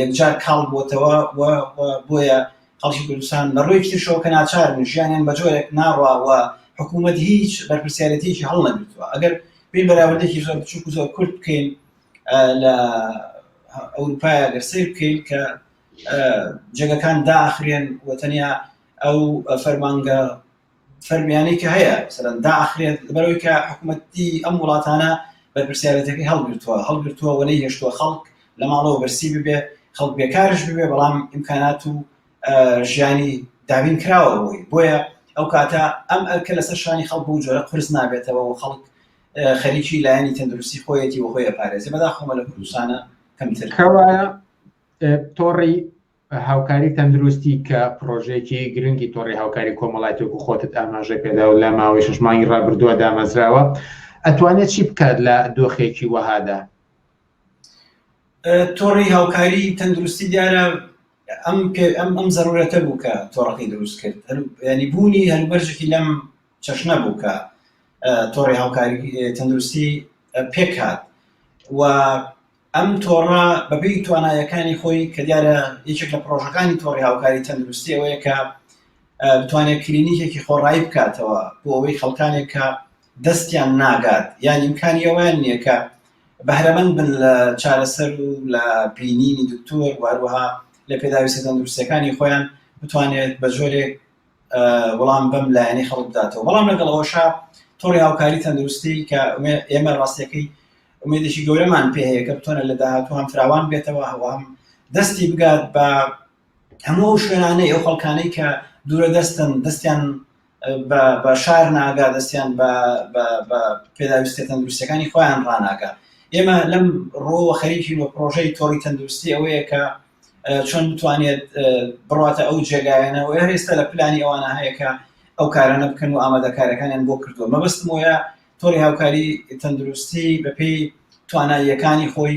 یەکجار کاڵ بۆتەوە و بۆیە خەڵکی کوردستان لە ڕوویەکی ترشەوە کە ناچارن ژیانیان بە جۆرێک ناڕوا و حکوومەت هیچ بەرپرسیارەتێکی هەڵ نەگرتووە ئەگەر پێی بەراوردێکی زۆر بچووک زۆر کورت بکەین لە ئەوروپای ئەگەر سیر بکەین کە جێگەکان داخرێن و تەنیا ئەو فەرمانگە فەرمیانەی کە هەیە مثلەن داخرێت لەبەرەوەی کە حکوومەتی ئەم وڵاتانە بەرپرسیارەتەکەی هەڵگرتووە هەڵگرتووە و نەی هێشتووە خەڵک لە ماڵەوە بەرسی ببێ خەڵک بێکارش ببێ بەڵام ئیمکانات و ژیانی دابین کراوە بۆی بۆیە ئەو کاتە ئەم ئەرکە لەسەر شانی خەڵک و جۆرە قرس نابێتەوە و خەڵک خەریکی لایەنی تەندروستی خۆیەتی و خۆی پارێزی بەدا خۆمە لە کوردستانە کەمتر کەوایە تۆڕی هاوکاری تەندروستی کە پڕۆژەیەکی گرنگی تۆڕی هاوکاری کۆمەڵایەتی وەکو خۆتت ئاماژەی پێدا و لە ماوەی شەش مانگی ڕابردووە دامەزراوە ئەتوانێت چی بکات لە دۆخێکی وەهادا تۆڕی هاوکاری تەندروستی دیارە ئەم ئەم ئەم زەرورەتە بوو کە تۆڕەکەی دروست کرد ینی بوونی هەلبەرژێکی لەم چەشنە بوو کە تۆڕی هاوکاری تەندروستی پێکات و ئەم تۆڕە بەپێی توانایەکانی خۆی کە دیارە یەکێک لە پرۆژەکانی تۆڕی هاوکاری تەندروستی ئەوەیە کە بتوانێت کلینیکێکی خۆڕایی بکاتەوە بۆ ئەوەی خەڵکانێک کە دەستیان ناگات یان ئیمکانی ئەویان نییە کە بەهرەمەند بن لە چارەسەر و لە بینینی دکتۆر واروها لە پێداویستە تەندروستەکانی خۆیان بتوانێت بە جۆرێک وەڵام بەم لایەنی خەڵک بداتەوە بەڵام لەگەڵ ئەوشا تۆڕی هاوکاری تەندروستی کە ئێمە ڕاستەکەی ئومێدێکی گەورەمان پێ هەیە کە بتوانێت لە داهاتوو هەم فراوان بێتەوە و هەم دەستی بگات بە هەموو ئەو شوێنانەی ئەو خەڵکانەی کە دوورە دەستن دەستیان بە شار ناگا دەستیان بە پێداویستە تەندروستەکانی خۆیان ڕناگە ئێمە لەم ڕۆوە خەریکی و پرۆژەی تۆڕی تەندروستی ئەوەیە کە چۆن بتوانێت بڕاتە ئەو جێگایانە و هێستا لە پلانی ئەوانە هەیەکە ئەو کارانە بکەن و ئامادەکارەکانیان بۆ کردووە مەبستمۆە تۆڕی هاوکاری تەندروستی بەپێی تواناییەکانی خۆی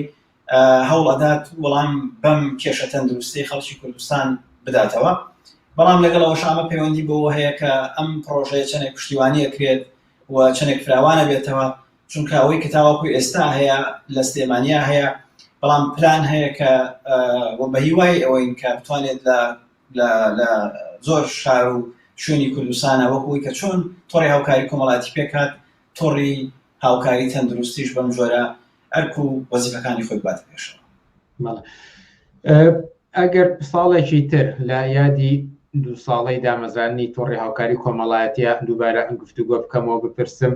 هەوڵ ئەدات وەڵام بەم کێشە تەندروستی خەڵکی کوردستان بداتەوە بەڵام لەگەڵ ئەوشامە پەیوەندی بۆ هەیە کە ئەم پرۆژەیە چەندێک پشتیوانی ئەکرێت و چەندێک فراوانە بێتەوە چونکە ئەوەی کە تاوەکو ئێستا هەیە لە سلێمانیا هەیە بەڵام پلان هەیە کە بە هیوای ئەوەین کە بتوانێت لە لە لە زۆر شار و شوێنی کوردستانە وەکوی کە چۆن تۆڕی هاوکاری کۆمەڵاتی پێکات تۆڕی هاوکاری تەندروستیش بەم جۆرە ئەرک و وەزیفەکانی خۆی بات پێشەوە ئەگەر ساڵێکی تر لە یادی دوو ساڵی دامەزانانی تۆڕی هاوکاری کۆمەڵایەتە دووبارە ئەم گفتوگۆ بکەمەوە بپرسم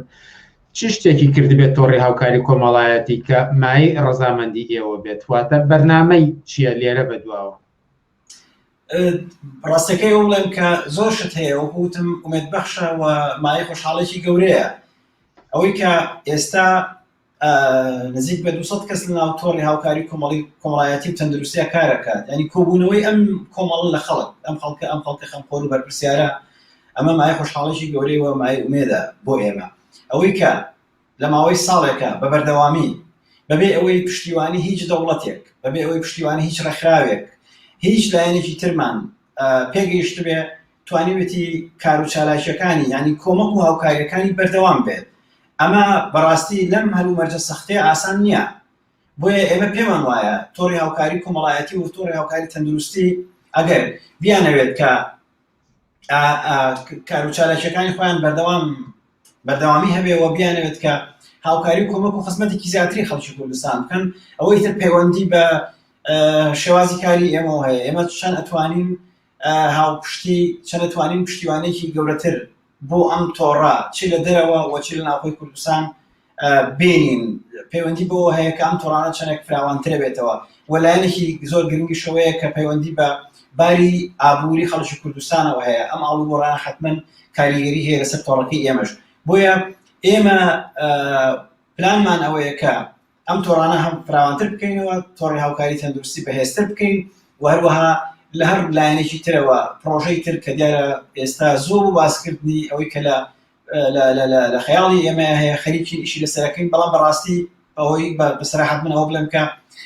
چ شتێکی کردبێت تۆڕی هاوکاری کۆمەڵایەتی کە مای ڕەزامەندی ئێوە بێت واتە بەرنمەی چییە لێرە بەدواوە ڕاستەکەی وڵێن کە زۆر شت هەیە وەکوتم ئومێت بەخشە و مای خۆشحاڵێکی گەورەیە ئەوەی کە ئێستا نزیک بە 200 کەس لە ناو تۆڕی هاوکاری کۆمەڵی کۆمەڵایەتی و تەندروستیا کارەکات ینی کۆبوونەوەی ئەم کۆمەڵ لە خەڵک ئەم خەڵکە ئەم خەڵکە خەمخۆر و بەرپسیارە ئەمە مای خۆشحاڵێکی گەورەی وە مای ئومێدا بۆ ئێمە ئەوەی کە لە ماوەی ساڵێکە بە بەردەوامی بەبێ ئەوەی پشتیوانی هیچ دەوڵەتێک، بەبێ ئەوەی پشتیوانی هیچ ڕێکخراوێک، هیچ لایەنێکی ترمان پێگەیشتبێ، توانیوێتی کار و چالاکییەکانی یانی کۆمەک و هاوکاریەکانی بەردەوام بێت. ئەمە بەڕاستی لەم هەلومەرجە سەختەی ئاسان نییە. بۆیە ئێمە پێمان وایە تۆڕی هاوکاری کۆمەڵایەتی و تۆڕی هاوکاری تەندروستی ئەگەر بیانەوێت کە کاروچالاکیەکانی خۆیان بەردەوام بەردەوامی هەبێ و بیانەوێت کە هاوکاری و کۆمەک و خزمەتێکی زیاتری خەڵکی کوردستان بکەن ئەوەی تر پەیوەندی بە شێوازی کاری ئێمە هەیە ئێمە چەند ئەتوانین هاوپشتی چەند ئەتوانین پشتیوانێکی گەورەتر بۆ ئەم تۆڕە چ لە دەرەوە و چ لە ناوخۆی کوردستان بێنین پەیوەندی بۆ هەیە کە ئەم تۆڕانە چەندێک فراوانترە بێتەوە و لایەنێکی زۆر گرنگی شەوەیە کە پەیوەندی بە باری ئابووری خەڵکی کوردستانەوە هەیە ئەم ئاڵوگۆڕان حتمما کاریگەری هەیە لەسەر تۆڕەکەی ئێمەش بۆیە ئێمە پلانمان ئەوەیە کە ئەم تۆڕانە هەم فراوانتر بکەینەوە تۆڕی هاوکاری تەندروستی بەهێزتر بکەین و هەروەها لە هەر لایەنێکی ترەوە پرۆژەی تر کە دیارە ئێستا زۆر و باسکردنی ئەوەی کە لە لە خەیاڵی ئێمە هەیە خەریکی ئیشی لەسەرەکەین بەڵام بەڕاستی ئەوەی بەسراحەت من ئەوە بڵێم کە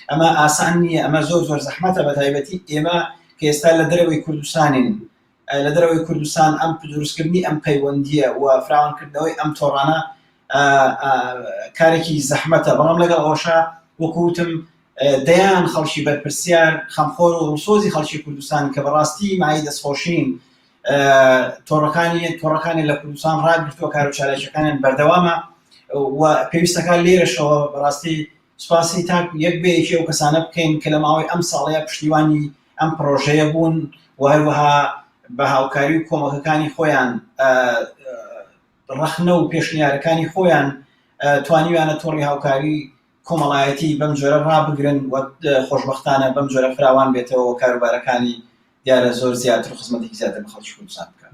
ئەمە ئاسان نییە ئەمە زۆر زۆر زەحمەتە بە تایبەتی ئێمە کە ئێستا لە دەرەوەی کوردستانین لە دەرەوەی کوردستان ئەم دروستکردنی ئەم پەیوەندییە و فراوانکردنەوەی ئەم تۆڕانە کارێکی زەحمەتە بەڵام لەگەڵ ئەوشا وەکوتم دەیان خەڵکی بەرپرسیار خەمخۆر و ڕسۆزی خەڵکی کوردستان کە بەڕاستی مای دەستخۆشین تۆڕەکانی تۆڕەکانی لە کوردستان ڕاگرتووە کار و چالاکیەکانیان بەردەوامە و پێویستەکان لێرەشەوە بەڕاستی سوپاسی تاک یەک بە یەکی ئەو کەسانە بکەین کە لە ماوەی ئەم ساڵەیە پشتیوانی ئەم پڕۆژەیە بوون و هەروەها بە هاوکاری و کۆمەکەکانی خۆیان ڕەخنە و پێشنیارەکانی خۆیان توانیویانە تۆڕی هاوکاری کۆمەڵایەتی بەم جۆرە ڕابگرن و خۆشببختانە بەم جۆرە فراوان بێتەوە کاروبارەکانی دیارە زۆر زیاتر و خزمەتێکی زیاتر بە خەڵکی کوردستان بکەن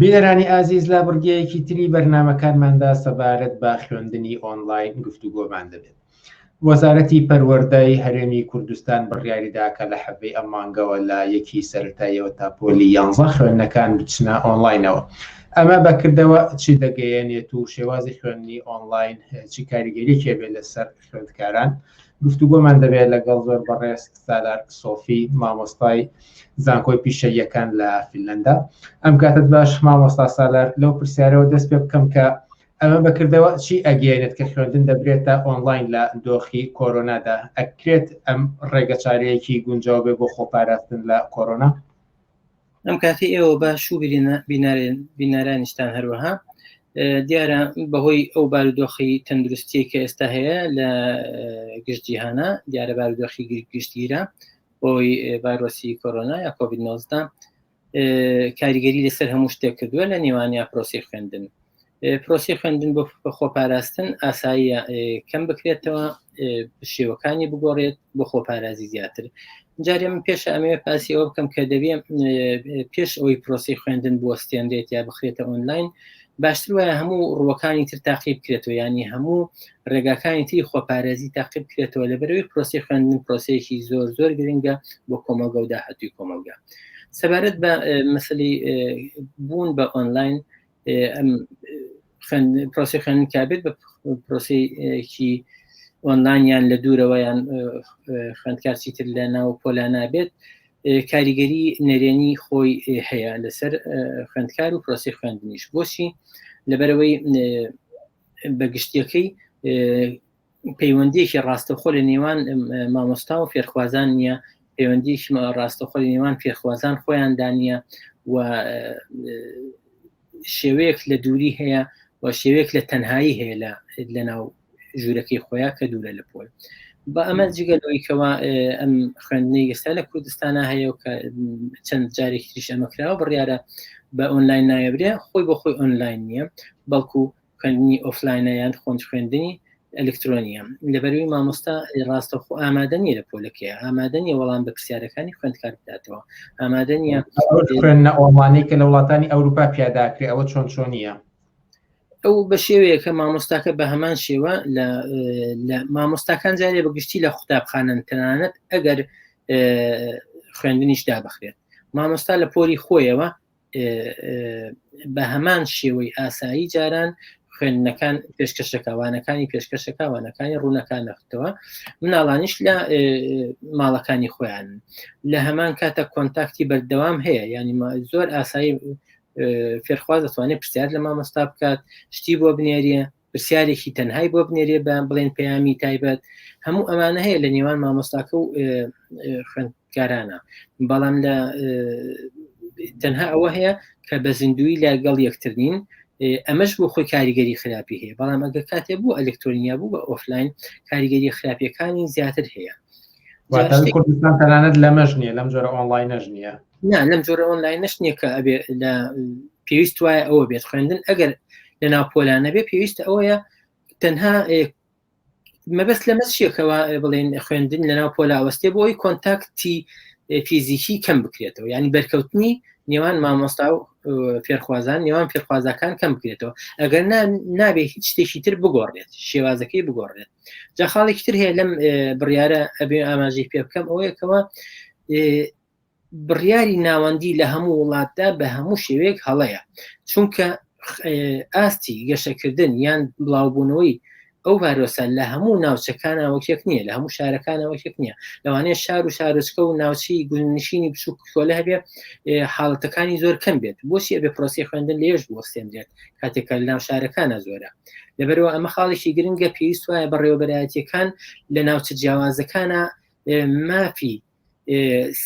بینەرانی ئازیز لابڕگەیەکی تری بەرنمەکانماندا سەبارەت بە خوێندنی ئۆنلاین گفتوگۆمان دەبێت وەزارەتی پەروەردەی هەرێمی کوردستان بڕیاری دا کە لە حەڤی ئەم مانگەوە لە یەکی سەرەتاییەوە تا پۆلی یانزە خوێندنەکان بچنە ئۆنڵاینەوە. ئەمە بە کردەوە چی دەگەیەنێت و شێوازی خوێندنی ئۆنڵاین چی کاریگەریەکی هەبێت لەسەر خوێندکاران؟ گفتوگۆمان دەبێت لەگەڵ زۆر بەڕێز سالار سۆفی مامۆستای زانکۆی پیشەییەکان لە فیلەندا. ئەم کاتت باش مامۆستا سالار لەو پرسیارەوە دەست پێ بکەم کە ئەمە بە کردەوە چی ئەگەیەنێت کە خوێندن دەبرێتە ئۆنڵاین لە دۆخی کۆرۆنادا؟ ئەکرێت ئەم ڕێگە چارەیەکی گونجاو بێ بۆ خۆپاراستن لە کۆرۆنا؟ ئەم کاتی ئێوە باش و بینارانیشتان هەروەها دیارە بەهۆی ئەو بارودۆخی تەندروستی کە ئێستا هەیە لە گشتجییهانە دیارە بارودۆخی گشتگیرە بۆی بارۆسی کۆرۆنا یا کۆبیدنۆزدا کاریگەری لەسەر هەموو شتێک کردووە لە نێوانیا پرۆسی خوێندن پرۆسی خوێندن بۆ خۆپاراستن ئاساییە کەم بکرێتەوە شێوەکانی بگۆڕێت بۆ خۆپارازی زیاتر جارێ من پێش ئەمێ پاسی ئەوە بکەم کە دەبێ پێش ئەوی پرۆسی خوێندن بۆ ستێنرێت یا بخرێتە ئۆنلاین باشتر وایە هەموو ڕوەکانی تر تاقی بکرێتەوە ینی هەموو ڕێگاکانی تری خۆپارێزی تاقی بکرێتەوە لەبەرەوەی پرۆسی خوێندن پرۆسەیەکی زۆر زۆر گرنگە بۆ کۆمەلگە و داهاتوی کۆمەلگە سەبارەت بە مەسلی بوون بە ئۆنلاین پرۆسی خوێندن کابێت بە پرۆسیکی ئۆنلاینیان لە دوورەوەیان خوندکار چیتر لە ناو پۆلا نابێت کاریگەری نەرێنی خۆی هەیە لەسەر خوندکار و پرۆسی خوێندنیش بۆچی لەبەرەوەی بە گشتیەکەی پەیوەندیەکی ڕاستەخۆ لە نێوان مامۆستا و فێرخوازان نیە پەیوەندیکی ڕاستەخۆ لە نێوان فێرخوازان خۆیان دانە و شێوەیەک لە دووری هەیە و شێوەیەک لە تەنهایی هەیە لە لەناو ژوورەکەی خۆیان کە دوورە لە پۆل بە ئەمە جگە لەوەی کەوا ئەم خوێندنی ئێستا لە کوردستانە هەیە و کە چەند جارێک تریش ئەمە کراوە بڕیاە بە ئۆنلاین نایەبرێ خۆی بۆ خۆی ئۆنلاین نییە بەڵکو خوێندنی ئۆفلاینە یان خۆند خوێندنی ئەلکترۆنیە لەبەروی مامۆستا ڕاستە خۆ ئامادەنیە لە پۆلەکەی ئامادەنیە وەڵام بە پرسیارەکانی خوێندکار بداتەوە ئامادەنیە خوێندنە ئۆمانەی کە لە وڵاتانی ئەوروپا پیاداکرێ ئەوە چۆن چۆنیە ئەو بە شێوەیەکە مامۆستاکە بە هەمان شێوە لە مامۆستاکان جارێ بە گشتی لە قوتابخانەن تەنانەت ئەگەر خوێندنیش دابخرێت مامۆستا لە پۆری خۆیەوە بە هەمان شێوەی ئاسایی جاران خوێندنەکان پێشکەشەکەوانەکانی پێشکەشەکەوانەکانی ڕوونەکان نەختەوە مناڵانیش لە ماڵەکانی خۆیان لە هەمان کاتە کۆنتاکتی بەردەوام هەیە ینی زۆر ئاسایی فێرخواز دەتوانێت پرسیار لە مامۆستا بکات شتی بۆ بنێریە پرسیارێکی تەنهای بۆ بنێریە بە بڵێن پەیامی تایبەت هەموو ئەمانە هەیە لە نێوان مامۆستاکە و خوێندکارانە بەڵام لە تەنها ئەوە هەیە کە بە زیندوی لە گەڵ یەکتر نین ئەمەش بۆ خۆی کاریگەری خراپی هەیە بەڵام ئەگە کاتێ بوو ئەلکتۆنیا بوو بە ئۆفلاین کاریگەری خراپیەکانی زیاتر هەیە کوردستان تەنانەت لەمەش نیە لەم جۆرە ئۆنلاین نەژ نیە نا لەم جۆرە ئۆنلاین نەش نیە کە ئەبێ لە پێویست وایە ئەوە بێت خوێندن ئەگەر لە ناو پۆلانە بێ پێویستە ئەوەیە تەنها مەبەست لەمە چیەکەەوە بڵێن خوێندن لە ناو پۆلاوەستێ بۆی کۆنتاکتی فیزیکی کەم بکرێتەوە ینی بەرکەوتنی نێوان مامۆستا و فێرخوازان نێوان فێرخوازەکان کەم بکرێتەوە ئەگەر نابێ هیچ شتێکی تر بگۆڕێت شێوازەکەی بگۆڕێت جا خاڵێکی تر هەیە لەم بڕیارە ئەبێ ئاماژەی پێ بکەم ئەوەیەکەوە بڕیاری ناوەندی لە هەموو وڵاتدا بە هەموو شێوەیەک هەڵەیە چونکە ئاستی گەشەکردن یان بڵاوبوونەوەی ئەو ڤایرۆسە لە هەموو ناوچەکانەوەکێک نییە لە هەموو شارەکانەوەکێک نییە لەوانەیە شار و شارۆچکە و ناوچی گونشینی بچووک کۆلە هەبێ حاڵەتەکانی زۆر کەم بێت بۆچی ئەبێ پرۆسی خوێندن لێش بۆستێنرێت کاتێکە لە ناو شارەکانە زۆرە لەبەرەوە ئەمە خاڵێکی گرنگە پێویست وایە بەڕێوەبەرایەتیەکان لە ناوچە جیاوازەکانە مافی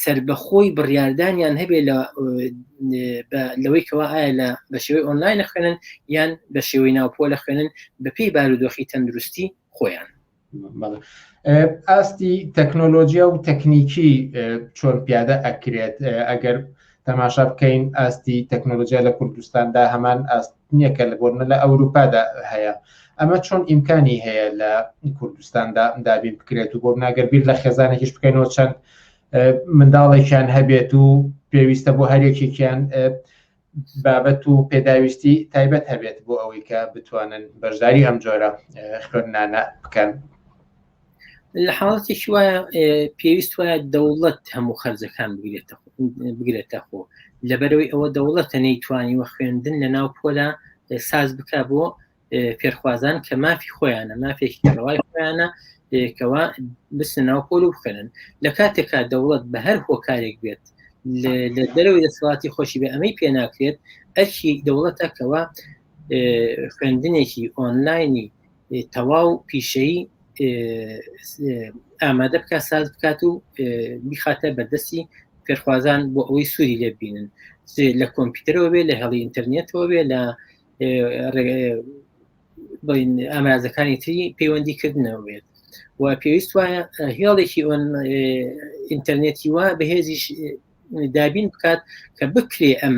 سربەخۆی بڕاردانیان هەبێ لە لەوەی کەوا ئایا لە بە شێوەی ئۆنلاین خوێنن یان بە شێوەی ناوپۆ لە خوێنن بەپی بارودۆخی تەندروستی خۆیان ئاستی تەکنۆلۆژیا و تەکنیکی چۆن پیادە ئەکرێت ئەگەر تەماشا بکەین ئاستی تەکنۆلۆژیا لە کوردستاندا هەمان ئاست نییە کە لە بۆرنە لە ئەوروپادا هەیە ئەمە چۆن ئیمکانی هەیە لە کوردستاندا دابین بکرێت و بۆ ناگەر بیر لە خێزانێکیش بکەینەوە چەند منداڵێکیان هەبێت و پێویستە بۆ هەرێکێکیان بابەت و پێداویستی تایبەت هەبێت بۆ ئەوەی کە بتوانن بەشداری ئەم جۆرە خوێندنانە بکەن لە حاڵەتی وایە پێویست وایە دەوڵەت هەموو خەرجەکان بگرێتە بگرێتە خۆ لەبەرەوەی ئەوە دەوڵەتە نەیتوانی وە خوێندن لە ناو پۆلا ساز بک بۆ فێرخوازان کە مافی خۆیانە مافێکی ڕەوای خۆیانە کەوا بچنە ناو پۆل و بخێنن لە کاتێکا دەوڵەت بە هەر هۆکارێک بێت لە دەرەوەی دەسەڵاتی خۆشی بە ئەمەی پێ ناکرێت ئەرکی دەوڵەتەکەەوە خوێندنێکی ئۆنلاینی تەواو پیشەی ئامادە بکە ساز بکات و بیخاتە بەردەستی فێرخوازان بۆ ئەوەی سووری لێبینن لە کۆمپیوتەرەوە بێ لە هەڵی ئینتەرنێتەوە بێ لە ئامرازەکانی تری پەیوەندی کردنەوە بێت و پێویست وایە هێڵێکی ئۆن ئینتەرنێتی وا بەهێزیش دابین بکات کە بکرێ ئەم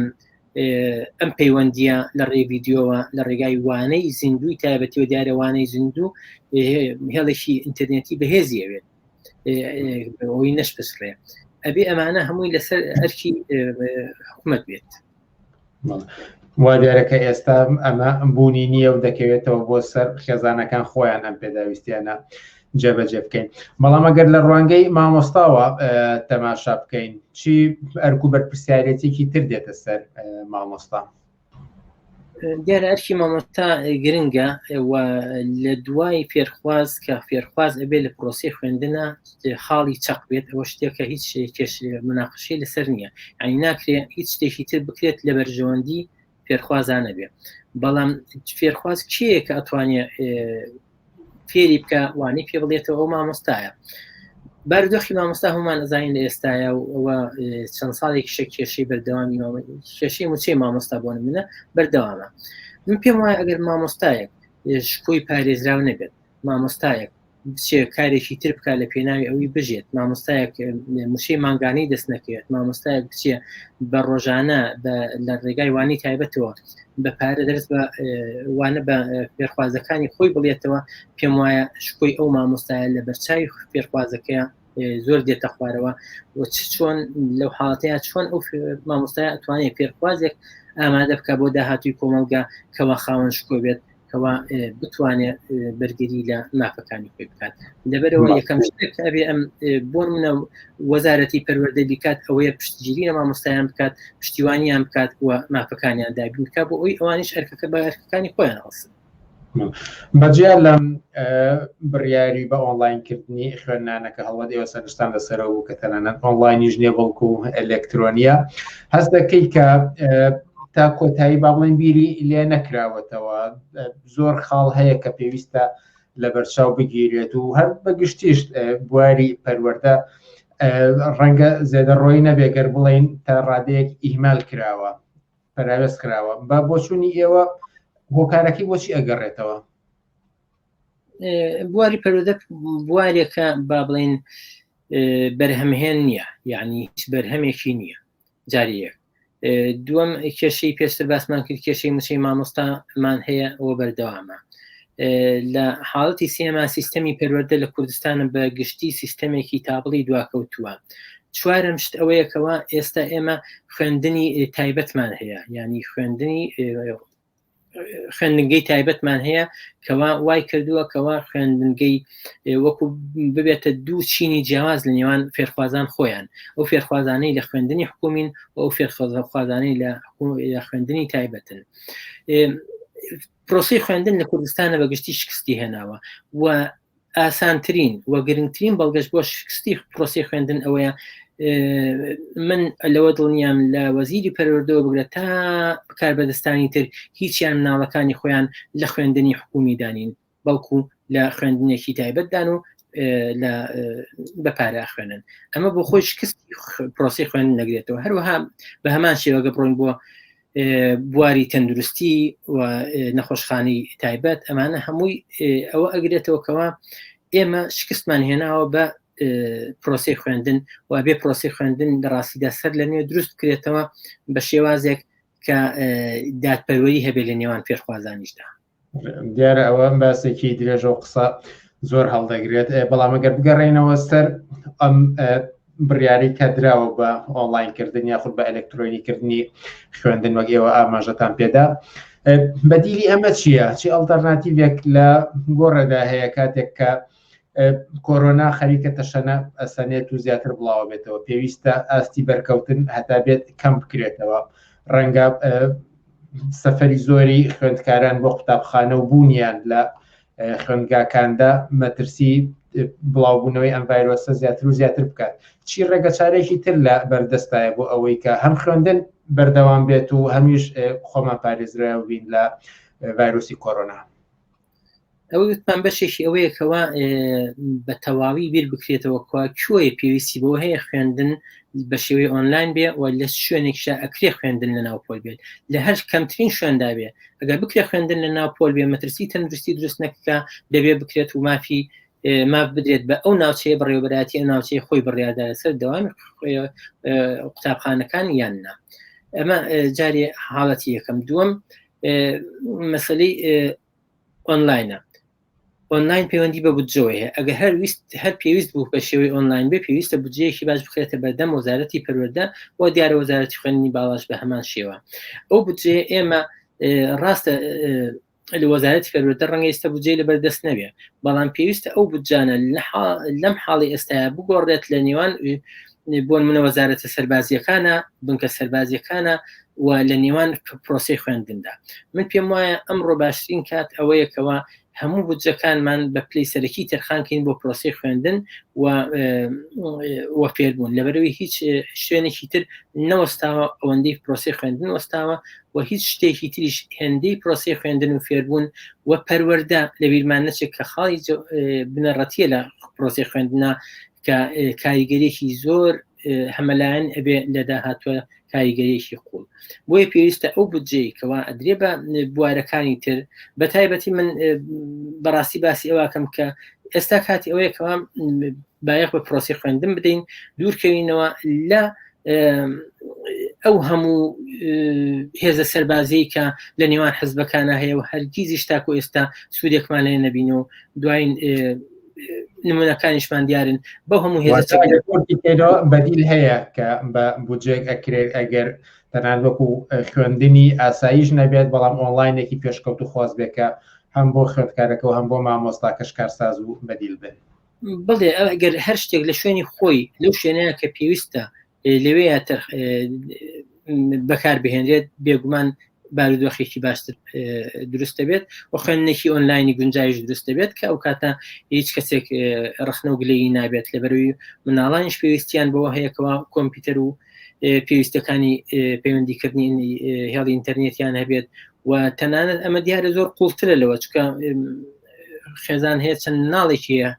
ئەم پەیوەندیە لە ڕێ یددیۆوە لە ڕێگای وانەی زیندوی تایبەتی و دیارەوانەی زیندوو هێڵێکی ئینتەرنێتی بەهێزی ئەوێت ئەوی نەشپسڕێ ئەبێ ئەمانە هەمووی لەسەر ئەرکی حکومت بێت وا دیارە کە ئێستا ئەمە بوونی نییە و دەکەوێتەوە بۆ سەر خێزانەکان خۆیان ئەم پێداویستیانە جێبەجێ بکەین بەڵام ئەگەر لە ڕوانگەی مامۆستاوە تەماشا بکەین چی ئەرک و بەرپسیارەتێکی تر دێتە سەر مامۆستا دیارە ئەرکی مامۆستا گرنگە و لە دوای فێرخواز کە فێرخواز ئەبێ لە پرۆسی خوێندنە خاڵی چەق بێت ئەوە شتێکە هیچ کێش مناقشەی لەسەر نییە ئەنی ناکرێت هیچ شتێکی تر بکرێت لە بەرژەوەندی فێرخوازانە بێت بەڵام فێرخواز کێیە کە ئەتوانێت فێری بکە وانی پێ بڵێتەوە ئەو مامۆستایە بەردۆخی مامۆستا هەمان ئەزانین لە ئێستاە و ئەوە چەند ساڵێک شە کێشەی بەردەوامی کێشەی موچەی مامۆستا بۆن منە بەردەوامە من پێم وایە ئەگەر مامۆستایەک شکۆی پارێزراو نەبێت مامۆستایەک بچێ کارێکی تر بکە لە پێناوی ئەوی بژێت مامۆستایەک مشەی مانگانەی دەست نەکەوێت مامۆستایەک بچێ بە ڕۆژانە لە ڕێگای وانی تایبەتەوە بە پارە دەرس بە وانە بە پێرخوازەکانی خۆی بڵێتەوە پێم وایە شکۆی ئەو مامۆستایە لە بەرچوی پێرخوازەکەی زۆر دێتە خوارەوە و چ چۆن لەو حاڵەتەیە چۆن ئەو مامۆستای ئەتوانێت پێرخوازێک ئامادە بکە بۆ داهاتوی کۆمەلگا کەوا خاوەن شکۆ بێت کەوا بتوانێت بەرگری لە مافەکانی پێ بکات لەبەرەوە یەکەم شتێک ئەبێ ئەم بۆ منە وەزارەتی پەروەردە بیکات ئەوەیە پشتگیری لە مامۆستایان بکات پشتیوانیان بکات و مافەکانیان دابینکە بۆ ئەوی ئەوانش ئەرکەکە بە ئەرکەکانی خۆیان هەڵسن بەجیا لەم بڕیاری بە ئۆنلاینکردنی خوێندنانەکە هەڵوەت ئێوە سەرشتان لەسەرەوە بوو کە تەنانەت ئۆنلاینیش نیە بەڵکو ئەلکترۆنیە هەست دەکەی کە تا کۆتایی با بڵێن بیری لێ نەکراوەتەوە زۆر خاڵ هەیە کە پێویستە لە بەرچاو بگیرێت و هەر بەگشتیش بواری پەروەەردە ڕەنگە زێدە ڕۆی نەبێگەر بڵین تا ڕادەیەک ئیهمال کراوە پەراوێز کراوە بە بۆچوونی ئێوە هۆکارەکەی بۆچی ئەگەڕێتەوە بواری پەرۆدە بوارێکە با بڵین بەرهەمهێن نییە یعنی هیچ بەرهەمێکی نییە جاری یەک دووەم کێشەی پێشتر باسمان کرد کێشەی موچەی مامۆستامان هەیە ئەوە بەردەوامە لە حاڵەتی سێما سیستەمی پەروەەردە لە کوردستانە بە گشتی سیستەمێکی تابڵی دواکەوتووە چوارم شت ئەوەیەکەوە ئێستا ئێمە خوێندنی تایبەتمان هەیە ینی خوێندنی خوێندنگەی تایبەتمان هەیە کەوا وای کردووە کەوا خوێندنگەی وەکو ببێتە دوو چینی جیاواز لە نێوان فێرخوازان خۆیان ئەو فێرخوازانەی لە خوێندنی حکومین و ئەو فێرخوازانەی لە خوێندنی تایبەتن پرۆسی خوێندن لە کوردستانە بە گشتی شکستی هێناوە و ئاسانترین و گرنگترین بەڵگەش بۆ شکستی پرۆسی خوێندن ئەوەیە من لەوە دڵنیام لە وەزیری پەرۆردەوە بگرە تا بکار بەدەستانی تر هیچیان مناڵەکانی خۆیان لە خوێندنی حکومی دانین بەڵکو لە خوێندنێکی تایبەتدان و لە بەپارە خوێنن ئەمە بۆ خۆی شکست پرۆسی خوێن نەگرێتەوە هەروەها بە هەمان شێوەگە بڕۆین بۆ بواری تەندروستی و نەخۆشخانی تایبەت ئەمانە هەمووی ئەوە ئەگرێتەوە کەەوە ئێمە شکستمان هێناوە بە پرۆسی خوێندن و بێ پرۆسی خوێندن لە ڕاستیدا سەر لە نوێ دروست کرێتەوە بە شێوازێک کە دادپەروەری هەبێ لە نێوان پێشخوازانیشدا دیارە ئەوە ئەم باسێکی درێژە و قسە زۆر هەڵدەگرێت بەڵام گەر بگەڕێنەوە سەر ئەم بڕیاری کە دراوە بە ئۆنلاینکردن یاخود بە ئەلکترۆنیکردنی خوێندن وەک ئێوە ئاماژەتان پێدا بەدیلی ئەمە چییە چی ئەڵتەرناتیڤێک لە گۆڕێدا هەیە کاتێک کە کۆرۆنا خەریکە تەشەنە ئەسەنێت و زیاتر بڵاوە بێتەوە پێویستە ئاستی بەرکەوتن هەتا بێت کەم بکرێتەوە ڕەنگە سەفری زۆری خوێندکاران بۆ قوتابخانە و بوونیان لە خوێندگاکاندا مەترسی بڵاوبوونەوەی ئەم ڤایرۆسە زیاتر و زیاتر بکات چی ڕێگە چارێکی تر لە بەردەستایە بۆ ئەوەی کە هەم خوێندن بەردەوام بێت و هەمیش خۆمان پارێزراوبین لە ڤایرۆسی کۆرۆنا ئەوە گوتمان بەشێکی ئەوەیە کەوا بە تەواوی بیر بکرێتەوە کوا کوێ پێویستی بۆ هەیە خوێندن بە شێوەی ئۆنلاین بێ و لە شوێنێکشا ئەکرێ خوێندن لە ناوپۆل بێت لە هەر کەمترین شوێندا بێ ئەگەر بکرێ خوێندن لە ناوپۆل بێ مەترسی تەندروستی دروست نەکە دەبێ بکرێت و مافی ماف بدرێت بە ئەو ناوچەیە بڕێوبەراتی ئەو ناوچەی خۆی بڕیادا لەسەر دەوام قوتابخانەکان یان نا ئەمە جارێ حاڵەتی یەکەم دووەم مەسلەی ئۆنلاینە ئۆنلاین پەیوەندی بە بودجەوەی هەیە ئەگە هەر ویست هەر پێویست بوو بە شێوەی ئۆنلاین بێ پێویستە بودجەیەکی باش بخێتە بەردەم وەزارەتی پەروەەردە و دیارە وەزارەتی خوێنی باڵاش بە هەمان شێوە ئەو بودجێ ئێمە ڕاستە لە وەزارەتی پەروەەردە ڕەنگە ئێستا بودجێ لە بەردەست نەبێ بەڵام پێویستە ئەو بودجانە لەم حاڵی ئێستاە بگۆڕێت لە نێوان بۆن منە وەزارەتە سەربازیەکانە بنکە سەربازیەکانە و لە نێوان پرۆسی خوێندندا من پێم وایە ئەمڕۆ باشترین کات ئەوەیەکەوە هەموو بودجەکانمان بە پلی سەرەکی تەرخانکەین بۆ پرۆسی خوێندن و وەفێربوون لەبەرەوەی هیچ شوێنێکی تر نەوەستاوە ئەوەندەی پرۆسی خوێندن وەستاوە و هیچ شتێکی تریش هێندەی پرۆسی خوێندن و فێربوون و پەروەەردە لە بیرمان نەچێت کە خاڵی بنەڕەتیە لە پرۆسی خوێندنا کە کاریگەریەکی زۆر هەمەلایەن ئەبێ لە داهاتوە کاریگەریەکی قوڵ بۆیە پێویستە ئەو بجێی کەوا ئەدرێ بە بوارەکانی تر بە تایبەتی من بەڕاستی باسی ئەوکەم کە ئێستا کاتی ئەوەیە کەوا بایەخ بە پرۆسی خوێندن بدەین دوورکەوینەوە لە ئەو هەموو هێزە سەربازی کە لە نێوان حزبەکانە هەیە و هەرگیزیش تاکو ئێستا سوودێکمان لێ نەبین و دوایین نمونونەکانیشمان دیارن بە هەموو هێزەکەەوە بەدیل هەیە کە بە بودجێک ئەکرێت ئەگەر تەنان وەکو خوێندنی ئاساییش نەبێت بەڵام ئۆنلاینێکی پێشکەوت و خواست بێکە هەم بۆ خوێندکارەکە و هەم بۆ مامۆستا کەشکارساز و بەدیل بن بڵێ ئەگەر هەر شتێک لە شوێنی خۆی لەو شوێنەیە کە پێویستە لەوێ بەکار بهێنرێت بێگومان بارودۆخێکی باشتر دروست دەبێت و خوێندنێکی ئۆنلاینی گونجایش دروست دەبێت کە ئەو کاتە هیچ کەسێک ڕخنە و گلەیی نابێت لە بەروی مناڵانیش پێویستیان بەوە هەیەکەوە کۆمپیوتەر و پێویستەکانی پەیوەندیکردنی هێڵی ئینتەرنێتیان هەبێت و تەنانەت ئەمە دیارە زۆر قوڵترە لەوە چکە خێزان هەیە چەند ناڵێکی هەیە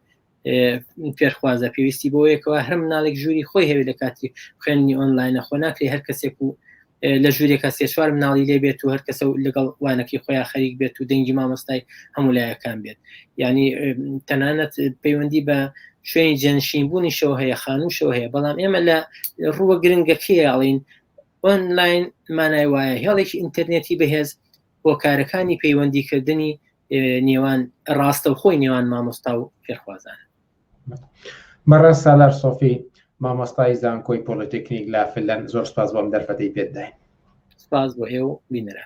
فێرخوازە پێویستی بۆ یەکەوە هەر مناڵێک ژووری خۆی هەوێت لە کاتی خوێندنی ئۆنلاینە خۆ ناکری هەر کەسێک و لە ژوورێکە سێ چوار مناڵی لێ بێت و هەر کەسە و لەگەڵ وانەکەی خۆیان خەریک بێت و دەنگی مامۆستای هەموو لایەکان بێت ینی تەنانەت پەیوەندی بە شوێنی جەنشین بوونیشەوە هەیە خانووشەوە هەیە بەڵام ئێمە لە ڕووە گرنگەکەی ئاڵین ئۆنلاین مانای وایە هێڵێکی ئینتەرنێتی بەهێز بۆ کارەکانی پەیوەندیکردنی نێوان ڕاستەوخۆی نێوان مامۆستا و فێرخوازان مەڕە سالار سۆفی مامۆستای زانکۆی پۆلتەکنیک لا فلەن زۆر سپاس بۆم دەرفەتی پێداین سپاس بۆ هێ و بینرا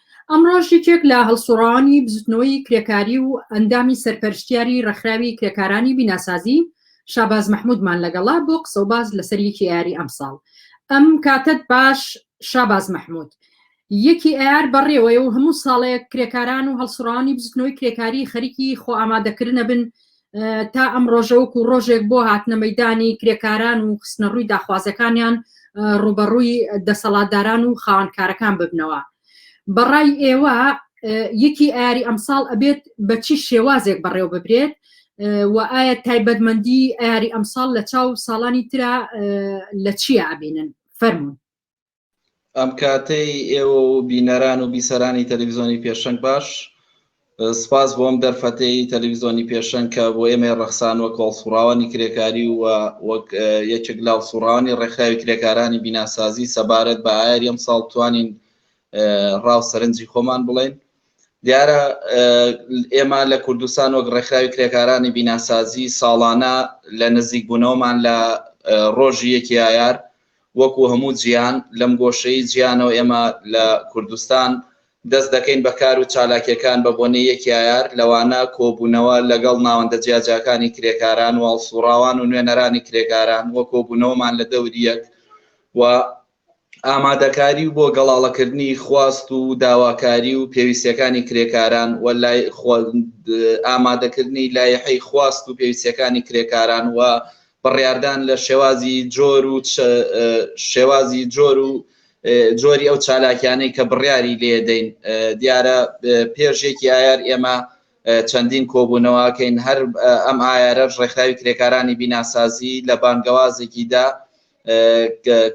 ئەمڕۆش یەکێک لە هەڵسوڕاوانی بزوتنەوەی کرێکاری و ئەندامی سەرپەرشتیاری ڕێکخراوی کرێکارانی بیناسازی شاباز مەحمودمان لەگەڵا بۆ قسە و باز لەسەر یەکی ئەیاری ئەمساڵ ئەم کاتەت باش شاباز مەحمود یەکی ئەیار بەڕێوەیە و هەموو ساڵێک کرێکاران و هەڵسوڕانی بزوتنەوەی کرێکاری خەریکی خۆ ئامادەکردنە بن تا ئەم ڕۆژە وەکو ڕۆژێک بۆ هاتنە مەدانی کرێکاران و خستنە ڕووی داخوازەکانیان ڕوبەڕووی دەسەڵاتداران و خاوەنکارەکان ببنەوە بەڕای ئێوە یەکی ئاری ئەمساڵ ئەبێت بە چی شێوازێک بەڕێو ببرێت و ئایا تایبەتمەندی ئاری ئەمساڵ لە چاو ساڵانی تررا لە چیە ئابینن فەرمونون ئەم کاتەی ئێوە و بینەران و بیسەرانی تەلەویزیۆنی پێشەنگ باش سپاس بۆم دەرفەتەی تەلەویزیۆنی پێشەنگ کە بۆ ئێمە ڕەخسان وەک هەڵسوڕاوانی کرێکاری و وەک یەکێک لە هەڵسوڕانی ڕێکخراوی کرێکارانی بیناسازی سەبارەت بە ئایر ئەم ساڵ توانین ڕاو سەرنجی خۆمان بڵێن دیارە ئێمە لە کوردستان وەک ڕێکخراوی کرێکارانی بیناسازی ساڵانە لە نزیکبوونەوەمان لە ڕۆژی یەکی ئایار وەکو هەموو جیهان لەم گۆشەی جیهانەوە ئێمە لە کوردستان دەست دەکەین بە کار و چالاکیەکان بە بۆنەی یەک یایار لەوانە کۆبوونەوە لەگەڵ ناوەندە جیاجیاکانی کرێکاران و هەڵسوڕاوان و نوێنەرانی کرێکاران و کۆبوونەوەمان لە دەوری یەک و ئامادەکاری و بۆ گەڵاڵەکردنی خواست و داواکاری و پێویستیەکانی کرێکاران و لای ئامادەکردنی لایحەی خواست و پێویستیەکانی کرێکاران و بڕیاردان لە شێوازی جۆر و شێوازی جۆر و جۆری ئەو چالاکیانەی کە بڕیاری لێدەین دیارە پێش یەکی ئایار ئێمە چەندین کۆبوونەوەکەین هەر ئەم ئایارەش ڕێکخراوی کرێکارانی بیناسازی لە بانگەوازێکیدا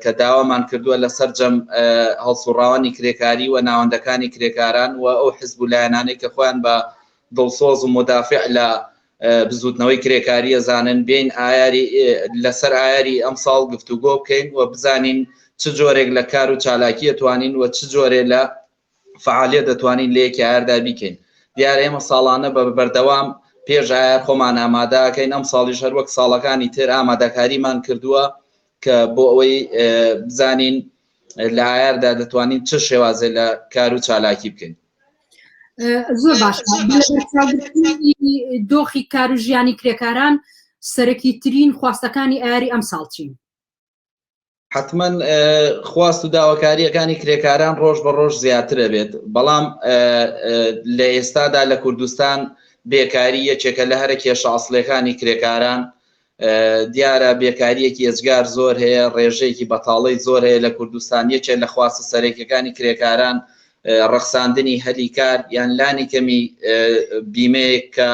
کە داوامان کردووە لە سەررجەم هەڵسوڕاوانی کرێکاری و ناوەندەکانی کرێکاران و ئەو حزب و لایەنانەی کە خۆیان بە دڵسۆز و مدافع لە بزووتنەوەی کرێکارییە زانن بێین لەسەر ئایاری ئەمساڵ گفتوگۆ بکەین و بزانین چ جۆرێک لە کار و چالاکییە توانین و چ جۆرێ لە فەعالییەت دەتوانین لە یەکی ئایاردا بیکەین. دیارە ئێمە ساڵانە بە بەردەوام پێش ئایار خۆمان ئامادە ئەکەین، ئەمساڵیش هەر وەک ساڵەکانی تر ئامادەکاریمان کردووە کە بۆ ئەوەی بزانین لە ئایاردا دەتوانین چ شێوازێ لە کار و چالاکی بکەین. زۆر باش دۆخی کار و ژیانی کرێکاران سەرەکی ترین خواستەکانی ئاری ئەم ساڵچین حتمما خواست و داواکاریەکانی کرێکاران ڕۆژ بە ڕۆژ زیاترە بێت بەڵام لە ئێستادا لە کوردستان بێکاری یەکێکە لە هەرە کێشە ئەاصلەکانی کرێکاران دیارە بێکارییەکی ئێجگار زۆر هەیە، ڕێژەیەکی بەتاڵی زۆر هەیە لە کوردستان، یەکێک لە خواستە سەرەکییەکانی کرێکاران ڕەخساندنی هەلی کار یان لانی کەمی بیمەیەک کە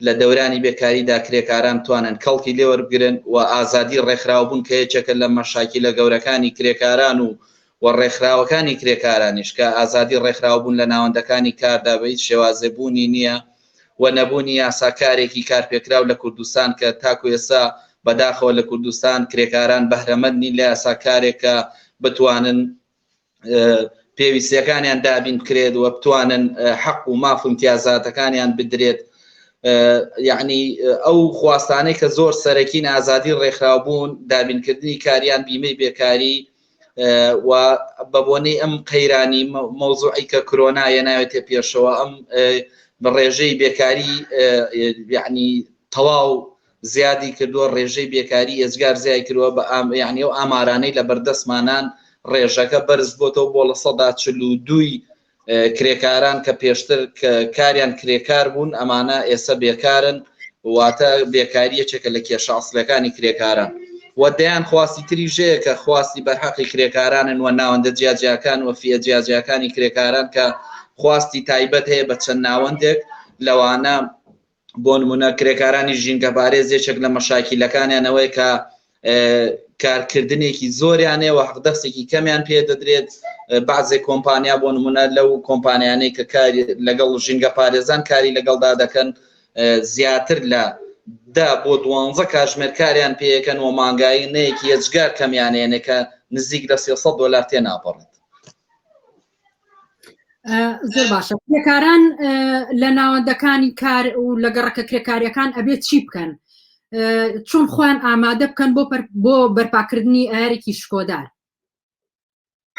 لە دەورانی بێکاریدا کرێکاران بتوانن کەڵکی لێوەربگرن و ئازادی ڕێکخراوبوون کە یەکێکە لە مەشاکیلە گەورەکانی کرێکاران و و ڕێکخراوەکانی کرێکارانیش کە ئازادی ڕێکخراوبوون لە ناوەندەکانی کاردا بە هیچ شێوازێ بوونی نییە، و نەبوونی یاساکارێکی کارپێکراو لە کوردستان کە تاکو ئێستا بەداخەوە لە کوردستان کرێکاران بەهرەمەند نین لە یاساکارێک کە بتوانن پێویستیەکانیان دابین بکرێت و بتوانن حەق و ماف و امتیازاتەکانیان بدرێت یعنی ئەو خواستانەی کە زۆر سەرەکین ئازادی ڕێکخراوبوون دابینکردنی کاریان بیمەی بێکاری و بەبۆنەی ئەم قەیرانی مەوزوعی کە کرۆنا یە ناوێتە پێشەوە ئەم بە ڕێژەی بێکاری یعنی تەواو زیادی کردووە ڕێژەی بێکاری ئێزگار زیای کردووە بە ئام یعنی و ئامارانەی لە بەردەستمانان ڕێژەکە بەرز بۆتەوە بۆ لە سەدا چل و دووی کرێکاران کە پێشتر کاریان کرێکار بوون ئەمانە ئێسە بێکارن واتە بێکاری یەکێکە لە کێشە ئەسلەکانی کرێکاران و دەیان خواستی تری ژەیە کە خواستی بەرحەقی کرێکارانن و ناوەندە جیاجیاکان و فیە جیاجیاکانی کرێکاران کە خواستی تایبەت هەیە بە چەند ناوەندێک لەوانە بۆ نموونە کرێکارانی ژینگەپارێز یەکێک لە مەشاکیلەکانیان ئەوەیە کە کارکردنێکی زۆریانێ و حەقدەستێکی کەمیان پێ دەدرێت بەعزێ کۆمپانیا بۆ نمونە لەو کۆمپانیانەی کە کاری لەگەڵ ژینگە پارێزان کاری لەگەڵدا دەکەن زیاتر لە دا بۆ دوانزە کاژمێر کاریان پێەکەن و مانگایی نەیەکی یەجگار کەمیانێنێکە نزیک لە 300 دلار تێ ناپەڕێت زۆر باشە کرێکاران لە ناوەندەکانی کار و لە گەڕەکە کرێکاریەکان ئەبێت چی بکەن چۆن خۆیان ئامادە بکەن بۆ بۆ بەرپاکردنی ئارێکی شکۆدار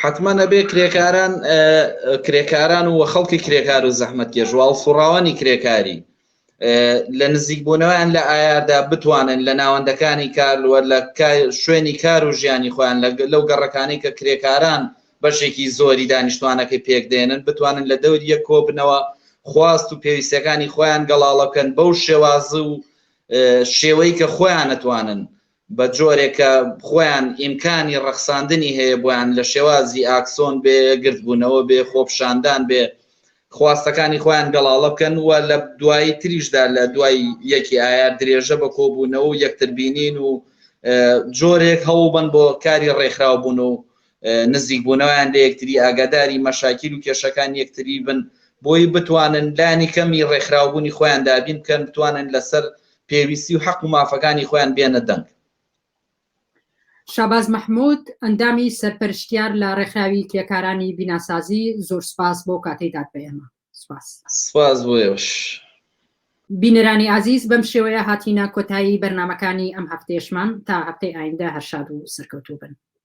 حتمما نەبێ کرێکاران کرێکاران و خەڵکی کرێکار و زەحمەت کێژواڵ سوڕاوانی کرێکاری لە نزیکبوونەوەیان لە ئایاردا بتوانن لە ناوەندەکانی کارلوەر لە شوێنی کار و ژیانی خۆیان لەو گەڕەکانەی کە کرێکاران بەشێکی زۆری دانیشتوانەکەی پێک دێنن بتوانن لە دەور یەک کۆبنەوە خواست و پێویستەکانی خۆیان گەڵاڵەکەن بەو شێوازە و شێوەی کە خۆیان نتوانن بە جۆرێک کە خۆیان ئیمکانی ڕەخساندنی هەیە بۆیان لە شێوازی ئاکسۆن بێ، گردبوونەوە بێ، خۆپیشاندان بێ، خواستەکانی خۆیان گەڵاڵە بکەن و لە دوایی تریشدا لە دوای یەکی ئایار درێژە بە کۆبوونەوە و یەکتر بینین و جۆرێک هەوڵ بەن بۆ کاری ڕێکخراو بوون و نزیک بونەوەیان لە یەکتری، ئاگاداری مەشاکیل و کێشەکانی یەکتری بن، بۆی بتوانن لانی کەمی ڕێکخراوبونی خۆیان دابین بکەن، بتوانن لەسەر پێویستی و حەق و مافەکانی خۆیان بێنە دەنگ. شاباز مەحمود، ئەندامی سەرپەرشتیار لە ڕێکخراوی کرێکارانی بیناسازی، زۆر سپاس بۆ کاتەی دات بە ئێمە. سپاس. سپاس بۆ ئێوەش. بینەرانی ئازیز، بەم شێوەیە هاتینە کۆتایی بەرنامەکانی ئەم هەفتەیەشمان، تا هەفتەی ئایندە هەر شاد و سەرکەوتوو بن.